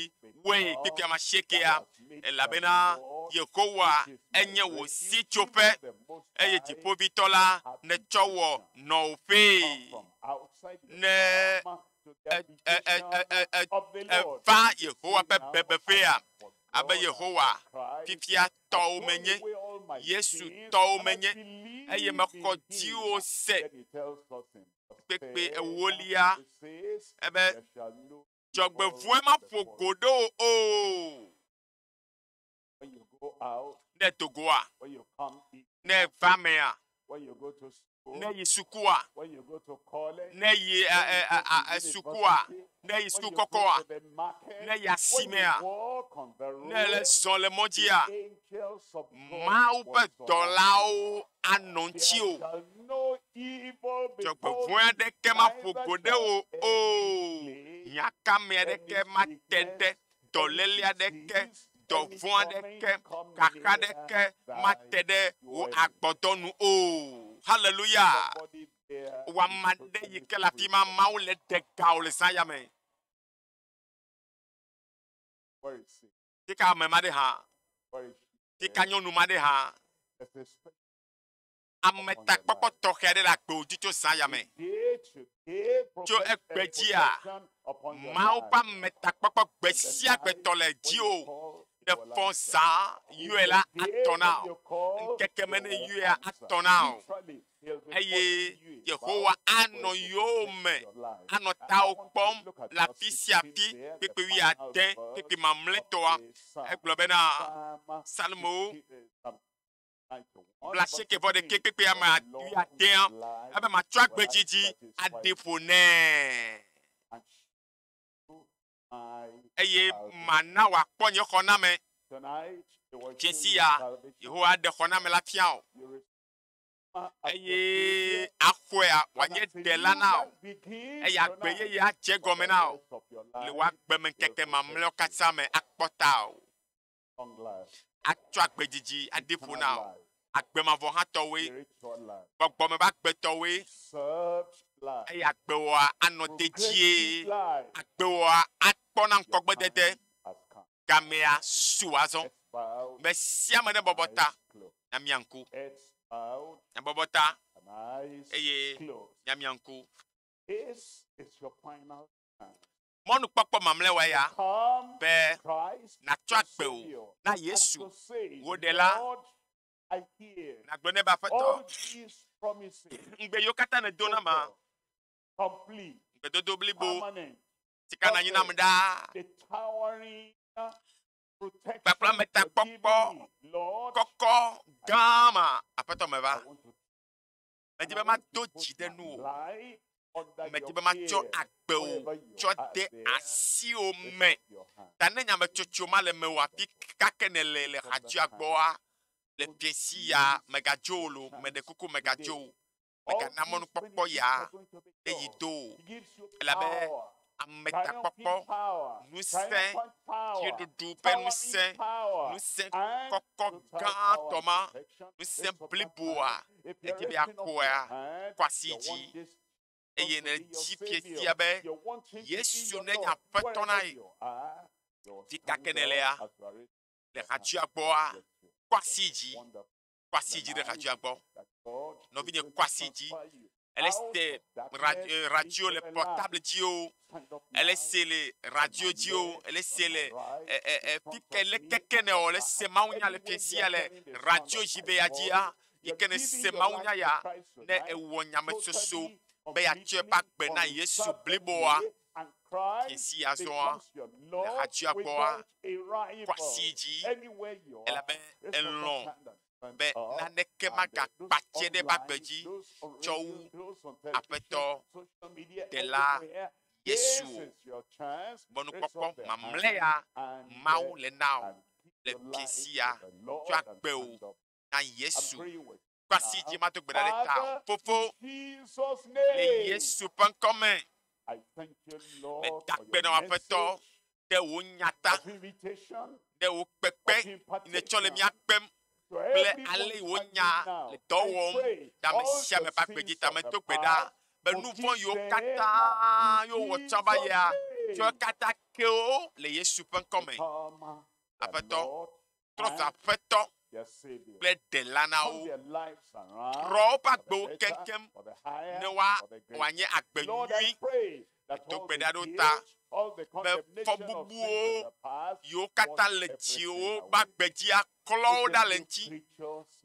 woe kpekpea ma siekea, elabena Yehowa enye wò sitsoƒe, eye Dziƒoʋĩtɔ la nètsɔ wɔ nɔƒee. Ne eva Yehowa ƒe bebeƒea abe Yehowa fifia tɔwo menye, Yesu tɔwo menye, eye mekɔ dziwo se kpekpe ewolia ebe dzɔgbevɔe maƒo go ɖe o. ne dogoa ne va mea ne yi sukua ne yi sukua ne yi suku kɔkɔa ne yi asimea ne le zɔ le mɔdzia mawu ƒe dɔlawo anɔ ŋuti o dzɔgbevɔe aɖeke maƒo go ɖe o o nyakame aɖeke mate ɖe dɔléle aɖeke, dɔvɔ̃ aɖeke, xaxa aɖeke mate ɖe wò agbɔdɔ nu o. Haleluya! Wama ɖe yi ke le afi ma, Mawu le ɖe ga wò le zã ya me. Tika ame ma ɖe hã. Tika nyɔnu ma ɖe hã. ametakpɔkpɔ tɔxɛ aɖe le agbewò dzi tso zã ya me. Tso egbe dzia, Mawu ƒe ametakpɔkpɔ gbe sia gbe tɔ le dziwò. Ne fɔ zã yɔe la, atɔ na wò. Ŋkeke me ne yɔea, atɔ na wò. Eye Yehowa anɔ yɔwo me, anɔ tawò kpɔm le afi sia afi, kpekpe wuiade, kpekpe mamlɛtɔa. Egblɔ bena, Psalmowo. blaasiekɛvɔɖekɛ kpekpe ame adeadeawo ebe matsɔ agbe dzidzi aɖi ƒo nɛ eye mana wòakpɔ nye xɔname. Dzesi ya Yehowa aɖe xɔname la fia o eye axɔea wòanye ɖela na o eye agbe yeye adze gɔme na o le wò agbemeŋkeke mamlɛawo katã me akpɔta o. atsɔ agbe didi aɖi ƒo na wò. Agbe mavɔ hã tɔwoe, gbɔgbɔ me ƒe agbe tɔwoe, eye agbewòa anɔ dedie. Agbewòa akpɔ na ŋkɔgbedede. Gamea su azɔ. Me sia me nebɔbɔ ta na mia ŋku. Nebɔbɔ ta eye na mia ŋku. mɔnukpɔkpɔ mamlɛawa ya be nàtsɔ agbe wò na Yesu, wò Ɖela. Nàgblɔ nɛ be, Aƒetɔ, ŋugbe yiwo katã nèdo na ma, gbedodo blibo si ka nànyi nam ɖaa, kpakple ametakpɔkpɔ kɔkɔ gã ma, Aƒetɔ, meva. Medi be mado dzi ɖe nuwò ŋu. Medi be matsɔ agbe wò tsɔ de asiwò me. Ta ne nyametsotso ma le mewò afi kake nèle le hadzia gbɔa, le fiẽsi ya megadzo wò lo, meɖe kuku megadzo wò. Megana mɔnukpɔkpɔ ya ɖe yi do o, elabe ametakpɔkpɔ, ŋusẽ, fiẽɖuɖu ƒe ŋusẽ, ŋusẽ kɔkɔ gãtɔ ma, ŋusẽ bliboa, edi be yeakpɔea, kɔ asi yi dzi eye ne edzi fifia be Yesu nenye Aƒetɔ na ye. Fika ke nèlea, le hatsua gbɔa, kɔ asi yi dzi kɔ asi dzi ɖe radioa gbɔ. Nɔvinye kɔ asi dzi. Elle se eh, radio le portable dzi o. Ele se le radio dzi o. Ele se le eh, eh, eh, fike le keke ne o. Ele se mawunya le fiesia le radio dzi be ya dzia. Yi ke ne se mawunya ya ne ewɔ nyametsotso be ya tsɔe ba gbe na Yesu bliboa. Esi azɔa, ehatsɔa gbɔa, kɔ asi yi dzi, elabe elɔ̃ be naneke magakpa tse ɖe eƒe agbe dzi tsɔ wu Aƒetɔ Ɖela Yesu o. Mɔnukpɔkpɔ mamlɛa Mawu le na wò le fiẽ sia tsɔ agbe wò na Yesu va si dzi mado gbe ɖa ɖe ta o. Fofo, le Yesu ƒe ŋkɔ me, meda akpe na wò Aƒetɔ ɖe wò nya ta, ɖe wò kpekpe yi nètsɔ le mía kpem kple ale yi wò nya le dɔ wɔm le ame sia ame ƒe agbe dzi ta. Medo gbe ɖa be nu vɔ̃ yiwo katã yewo wɔ tsã va yia, tsɔe katã ke wo le Yesu ƒe ŋkɔ me. Aƒetɔ, trɔ zu aƒetɔ kple ɖela na wo, trɔ woƒe agbewo keŋkeŋ ne woanye agbe nyui. Do gbe ɖa ɖo ta be fɔbubuwo yiwo katã le dziwò ƒe agbe dzi aklɔ wo ɖa le eŋuti.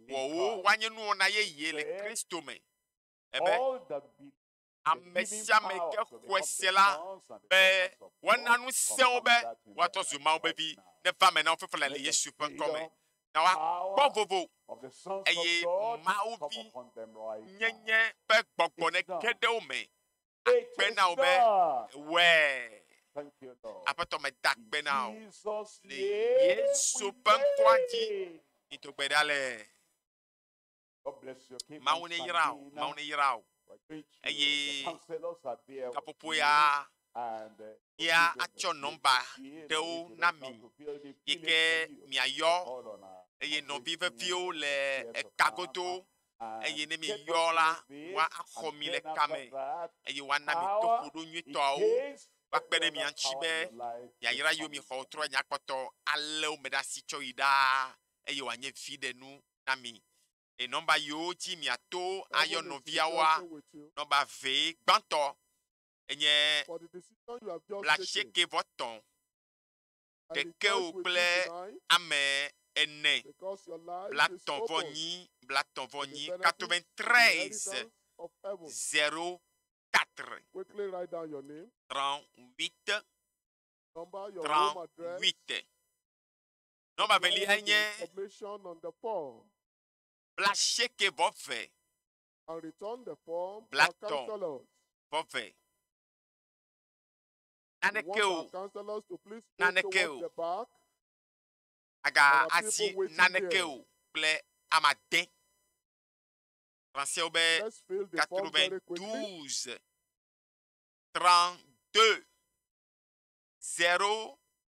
Wɔ wo woanye nuwɔna yeye le Kristo me. Ebe. ame sia ame ke xɔe se la be woana nu sẽwo be woatrɔ zu Mawu vevi neva me na wo fefele le Yesu ƒe ŋkɔ me. Na woakpɔ vovo eye Mawu vi nyenye ƒe gbɔgbɔ neke ɖe wo me akpe na wo be wɛ. Aƒetɔ me da akpe na wo le Yesu ƒe ŋkɔa dzi. Mito gbe ɖa le. Mawu ne yra o, Mawu ne yra o. Eye gaƒoƒo ya ya atsɔ nɔmba ɖewo na mi yi ke miayɔ eye nɔvi veviwo le eka godo eye ne miyɔ la woaxɔ mi le kame eye woana mi toƒoɖo nyuitɔawo woakpe ɖe mia ŋuti be yayra yewo mi xɔ trɔ nyakpɔtɔ alé wo me ɖe asi tsɔ yi ɖaa eye wòanye viɖe nu na mi le nɔmba yiwo dzi miato ayɔ nɔviawoa. Nɔmba ve gbãtɔ enye blaasieke vɔ tɔ̃ ɖekewo kple ame ene blatɔ̃ vɔ nyi blatɔ̃ vɔ nyi katove trɛze zero katre trɔn wite trɔn wite. Nɔmba veliae nye blasieke vɔ ve. Blatɔ vɔ ve. Naneke o, naneke o, aga asi naneke o kple ama de. Fransɛwo be 92 32 0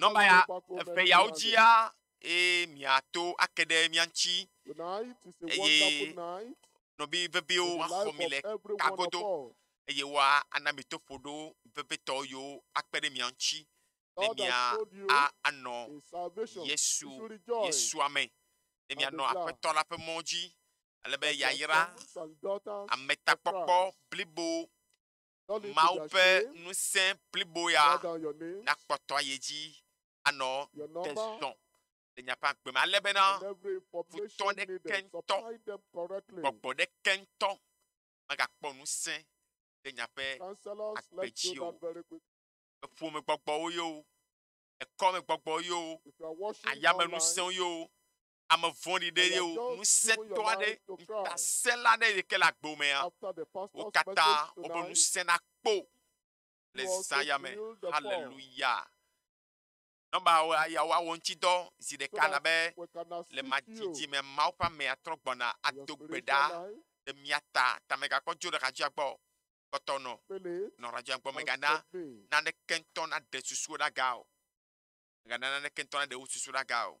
Nɔmba ya eve yawo dzia, eye miato ake ɖe mia ŋuti eye nɔbi veviwo axɔ mi le kagodo eye woa ana mi toƒoɖo vevitɔ yiwo akpe ɖe mia ŋuti ne mia a anɔ Yesu Yesua me ne mianɔ Aƒetɔ la ƒe mɔ dzi ale be yayra ametakpɔkpɔ blibo Mawu ƒe ŋusẽ blibo ya nakpɔtɔ ye dzi anɔ te zɔ le miaƒe agbe me, ale bena futɔ ɖeke ŋutɔ, gbɔgbɔ ɖeke ŋutɔ megakpɔ ŋusẽ le miaƒe agbe dzi o. Eƒomegbɔgbɔwo yewo, ekɔmegbɔgbɔwo yewo, ayamenusẽwo yewo, ame vɔ̃ɖi ɖe ye o ŋusẽtɔ aɖe ŋutasẽla aɖe yike le agbo mea wo katã wobe ŋusẽ nakpɔ le zaya me haleluya nɔba yawo awɔ ŋutidɔ zi ɖeka labe le madzidzi me mawo ƒe amea trɔ gbɔna ado gbe ɖa le mia ta ta megakpɔ dzo ɖeka dzia gbɔ kpɔtɔ nɔ nɔ ɖeka dzia gbɔ megana naneke ŋutɔ naɖe susu ɖaga o megana naneke ŋutɔ naɖe wo susu ɖaga o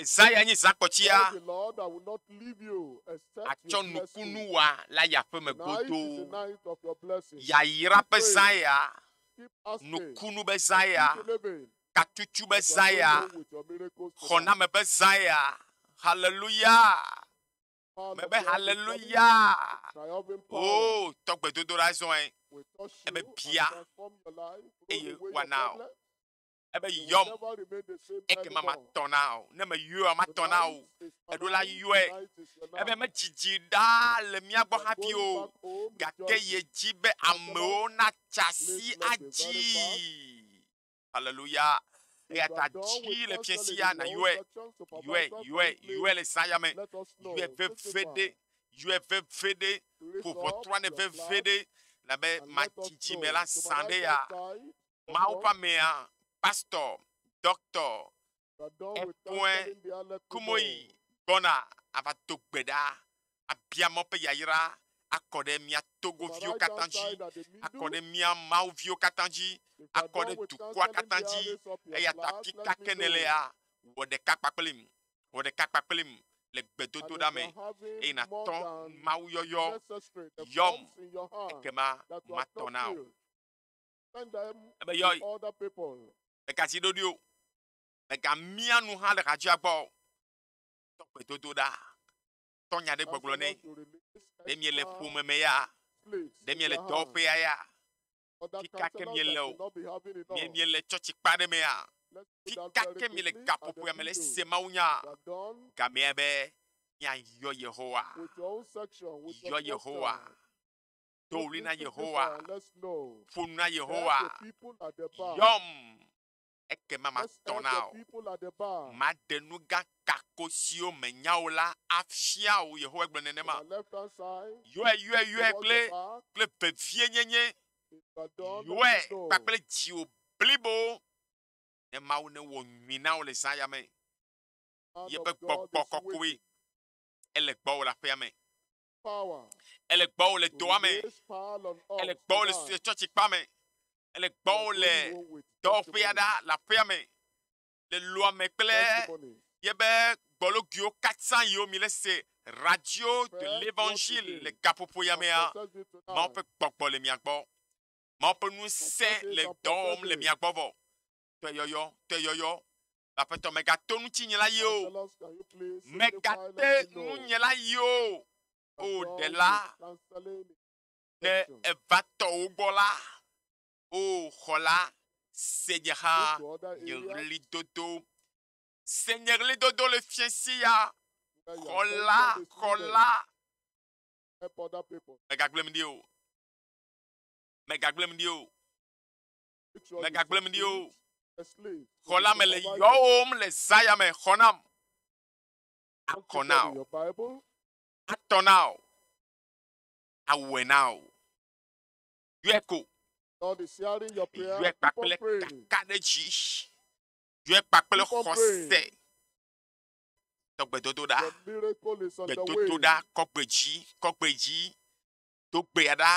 Esaya nyi zakɔtsia atsɔ nukunu wa le aya ƒe me godoo. Yayra ƒe zãya, nukunu be zãya, katutu be zãya, xɔname ƒe zãya. Haleluya! Mebe haleluya! O, oh, tɔgbedodoɖa zɔe ebe bia eye wana o. ebe yɔm, ekema matɔ na wò. Ne meyɔa, matɔ na wò. Eɖo la yɔe, ebe medzidzi ɖaa le mía gbɔ hafi o, gake yedi be amewo natsa asi adzii. Haleluya. Eya ta dzi le fiẽ sia nàyɔe, yɔe, yɔe, yɔe le zã ya me, yɔe veviɖe, yɔe veviɖe, ƒo ʋɔtrua nɛ veviɖe, labe matsi dzi me la zã ɖe ya. Mawu ƒe amea, pastɔ, dɔktɔ, Epoin Kumoyi gbɔna ava do gbe ɖa, abia Mawu ƒe yayra akɔ ɖe mía Togo viwo katã dzi, akɔ ɖe mía Mawu viwo katã dzi, akɔ ɖe dukɔa katã dzi. Eya ta afi ka ke nèlea, wɔ ɖeka kpakplim, wɔ ɖeka kpakplim le gbedodoɖa me, eye nàtɔ Mawuyɔyɔ. Yɔm, ekema matɔ na wò. Ebe yɔ mega si ɖoɖi o. Mega mia nu hã le hadzia gbɔ. Tɔ gbedodo ɖa. Tɔ nya ɖe gbɔgblɔ nɛ. Ɖe mie le ƒome me ya. Ɖe mie le dɔwɔƒea ya. Fika ke mie le o. Mie mie le tsɔtsi kpa ɖe me ya. Fika ke mie le gaƒoƒoea me le se mawu nya. Gamea be mia yɔ Yehowa. Yɔ Yehowa. do ɣli na Yehowa, ƒo nu na Yehowa, yɔm, ekema matɔ na wò. Maɖe nu gã kako siwo mènya o la afia wò, Yehowa gblɔ nenema. Yɔe, yɔe, yɔe kple, kple vevie nyenye, yɔe kpakple dziwò blibo, ne Mawu newɔ nyui na wò le zã ya me. Yeƒe gbɔgbɔ kɔkɔe ele gbɔwò le aƒea me. Ele gbɔwò le dɔa me. Ele gbɔwò le sue tsɔtsi kpa me. Ele gbɔwò le dɔwɔƒea ɖa le aƒea me. Le lua me kple yebe gbɔlogiwo katã yiwo mi le se radio de l'évangile le gaƒoƒo ya mea. Mawo ƒe gbɔgbɔ le mia gbɔ. Mawo ƒe ŋusẽ le dɔwɔm le mia gbɔ vɔ. tɔyɔyɔ, tɔyɔyɔ. Aƒetɔ megato ŋutinye la yi o. Megate ŋunye la yi o. O ɖela, ne eva tɔ wo gbɔ la, o xɔla, se nye hã nye ɣlidodo. Se nye ɣlidodo le fiesi ya. Xɔla, xɔla. Megagblẽm ɖi o. Megagblẽm ɖi o. megagblẽm ɖi o. Xɔ la me le yɔwòm le zaya me, xɔ nam, akɔ na o, atɔ na o, awɔe na o. Yɔe ko. Yɔe kpakple kakaɖedzi. Yɔe kpakple xɔse. Tɔgbedodoɖa, gbedodoɖa, kɔgbedzi, kɔgbedzi, togbea ɖa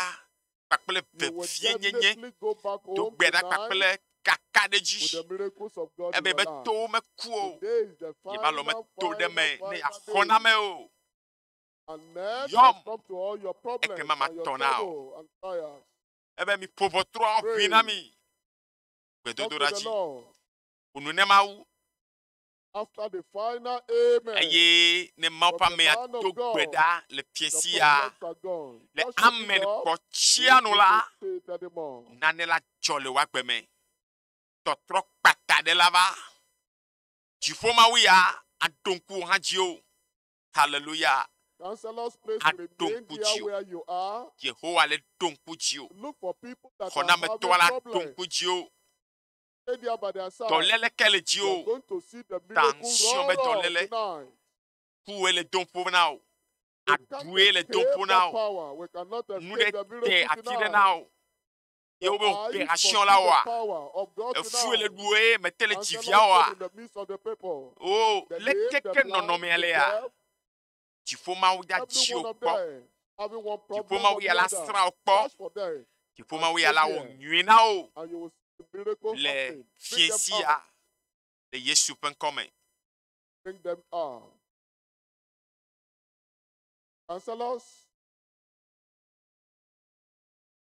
kpakple vevienyenye, togbea ɖa kpakple kakaɖedzi, ebe be towo meku o, yebe alɔ meto ɖe me ne yeaxɔ na ame o. Yɔm, ekema matɔ na o. Ebe miƒo ʋɔtrua ʋui na mi. Gbedodoɖa dzi, ƒo nu ne Mawu, Eye ne Mawu ƒe amea do gbe ɖa le fiẽsia le amen kpɔtsia nu la, nane la dzɔ le woagbe me. Tɔtrɔ kpata ɖe la va. Dziƒo Mawu ya aɖo ŋku wò hã dzi o. Haleluya. Aɖo ŋku dzi o. Yehowa le ɖo ŋku dzi o. Xɔnametɔa la ɖo ŋku dzi o. Dɔléle ke le dziwò ta ŋusɔ be dɔléle kuwòe le dom ƒo na wò. Aɖue le dom ƒo na wò. Nu ɖe te ati ɖe na wò. Ye wobe wòte asiɔ la wɔa. Efue le ɖuwò eye mete le dzivia wɔa. O, leke ke nɔnɔmea lea? Dziƒomawu ya dzi wò kpɔ. Dziƒomawu ya la srã wò kpɔ. Dziƒomawu ya la wɔ nyui na wò le fiẽ sia le Yesu ƒe ŋkɔ me. Counselors,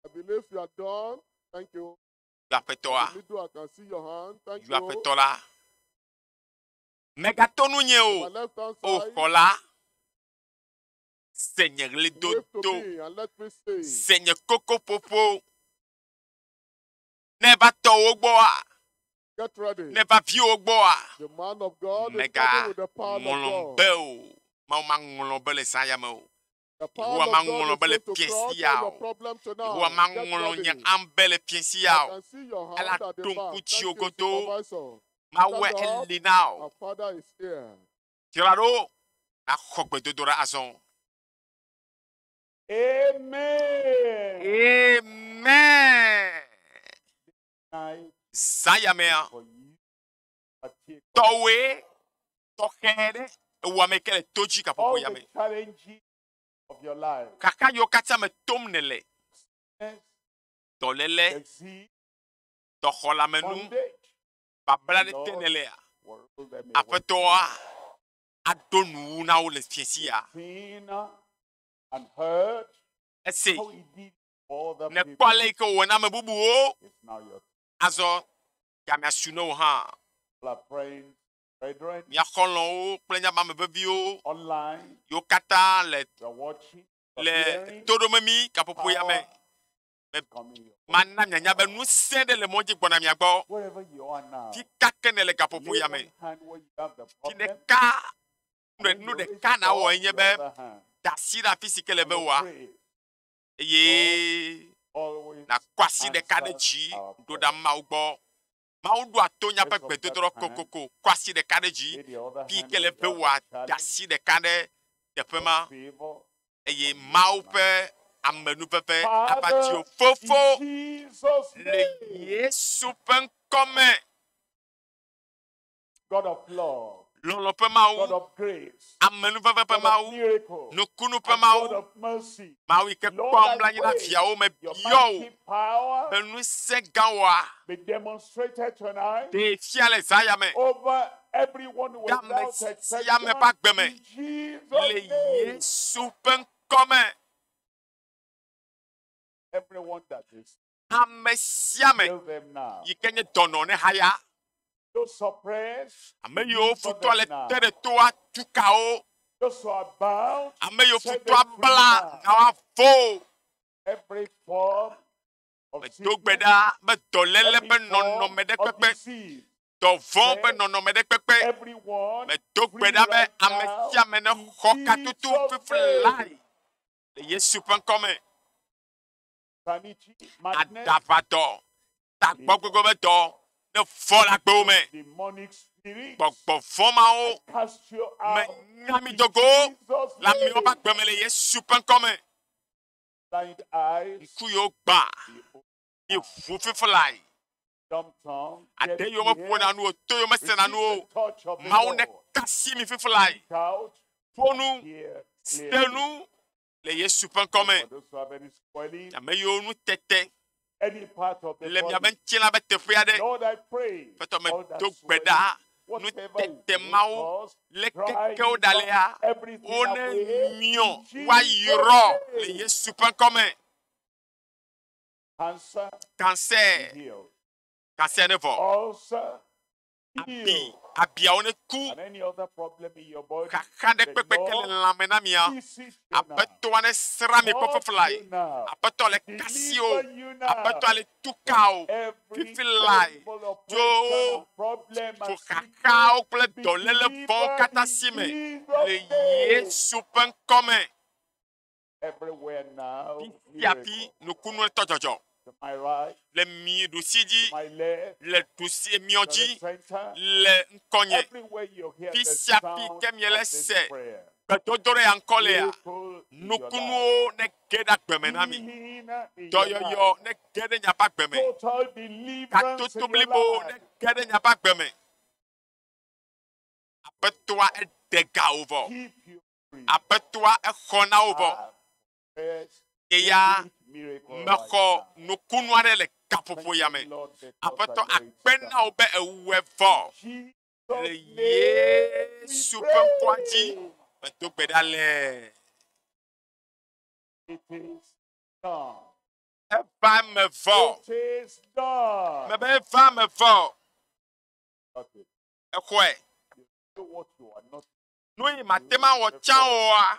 I believe you are done. Thank you. Yu aƒetɔa, yu aƒetɔ la. Mègato nunye o, O Xɔla, se nye ɣlidodo, se nye kokoƒoƒo. Ne va tɔ wo gbɔa, ne va vi wo gbɔa, mègaŋlɔm be o, Mawu maŋlɔ be le saya me o. Yehowa maŋlɔ be le fiẽ sia o. Yehowa maŋlɔ nye am be le fiẽ sia o. Ela ɖo ŋku dziwò godoo. Mawɔe eli na wò. Dzra ɖo nàxɔ gbedodoɖa azɔ. Amen. Zã yamea. tɔwɔe tɔxɛ ɖe ewɔ ame ke le to dzi gaƒoƒo ya me. Kaka yiwo katã me tom nele. Dɔléle, dɔxɔlamenu, babla ɖe te nelea. Aƒetɔa aɖo nuwu na wo le fiesi ya. Ese nekpɔ ale yi ke wòwɔ na ame bubuwo. Azɔ Ya miasu ne wò hã. Mia xɔlɔ̃wo kple nye amame veviwo yiwo katã le le toɖomemi gaƒoƒo ya me. Mana mianya be ŋusẽ ɖe le mɔ dzi gbɔna mia gbɔ. Fi ka ke nèle gaƒoƒo ya me. Fi ɖeka nu ɖeka nawɔ enye be da asi ɖe afi si ke le be wòa. eye nàkɔ asi ɖeka ɖe dzi ɖo ɖa Mawu gbɔ. Mawu ɖoa to nyaƒe gbedodoɖa kokoko, kɔ asi ɖeka ɖe dzi, fi yi ke le be wòada asi ɖeka ɖe teƒe ma, eye Mawu ƒe amenuveve ava dziwò. Fofo, le Yesu ƒe ŋkɔ me, lɔlɔ ƒe Mawu, amenuveve ƒe Mawu, nukunu ƒe Mawu, Mawu yi ke kpɔ nublanui na viawo me biɔ wò be nu sẽ gã wɔa ɖee fia le zã ya me ɖe ame sia ame ƒe agbe me le Yesu ƒe ŋkɔ me. Ame sia ame yi ke nye dɔnɔ ne haya. Ame yiwo futɔa le te ɖe toa tu kawo. Ame yiwo futɔa bla nawa vo. Medo gbe ɖa be dɔléle ƒe nɔnɔme ɖe kpekpe, dɔvɔ̃ ƒe nɔnɔme ɖe kpekpe. Medo gbe ɖa be ame sia ame nexɔ katutu fiflilae le Yesu ƒe ŋkɔ me. aɖaʋatɔ, tagbɔgbegbetɔ ɖe vɔ le agbewo me. Gbɔgbɔ vɔ mawo menya mi do go le amewo ƒe agbe me le Yesu ƒe ŋkɔ me. Ŋku yewo gbã, yi ʋu fiflae. Ade yewo meƒo na nuwo, to yewo mese na nuwo. Mawu ne kasi mi fiflae. Ƒo nu, se nu, le Yesu ƒe ŋkɔ me. Ame yiwo nu tete le miaƒe ŋutilã ƒe teƒe aɖe. Fetɔ me do gbe ɖa nu tete mawo le kekewo ɖa lea wo ne miɔ woayrɔ le Yesu ƒe ŋkɔ me. Kansɛ kansɛ ne vɔ. Abi, abiawo neku. Xaxa ɖe kpekpe ke le lãme na mia. Aƒetɔa nesrã mi kpɔ fifilae. Aƒetɔa le kasi o. Aƒetɔa le tuka o. Fifilae tso tso xaxawo kple dɔléle vɔwo katã si me le Yesu ƒe ŋkɔ me. Fiafi nukunu etɔ dzɔdzɔ le mi ɖusi dzi, le ɖusi miɔ dzi, le ŋkɔnye. Fi sia fi ke miele se gbedodo ɖe ya ŋkɔ lea, nukunuwo ne ge ɖe agbe me na mi. Dɔyɔyɔ ne ge ɖe miaƒe agbe me. Katoto blibo ne ge ɖe miaƒe agbe me. Aƒetɔa eɖe ga wò vɔ. Aƒetɔa exɔ na wo vɔ. Ye ya mexɔ nukunu aɖe le gaƒoƒo ya me. Aƒetɔ akpe na wo be ewɔe vɔ le Yesu ƒe ŋkɔa dzi. Medo gbe ɖa le. Eva me vɔ. Mebe eva me vɔ. exɔe. Nu yi mate ŋu awɔ tsã oa?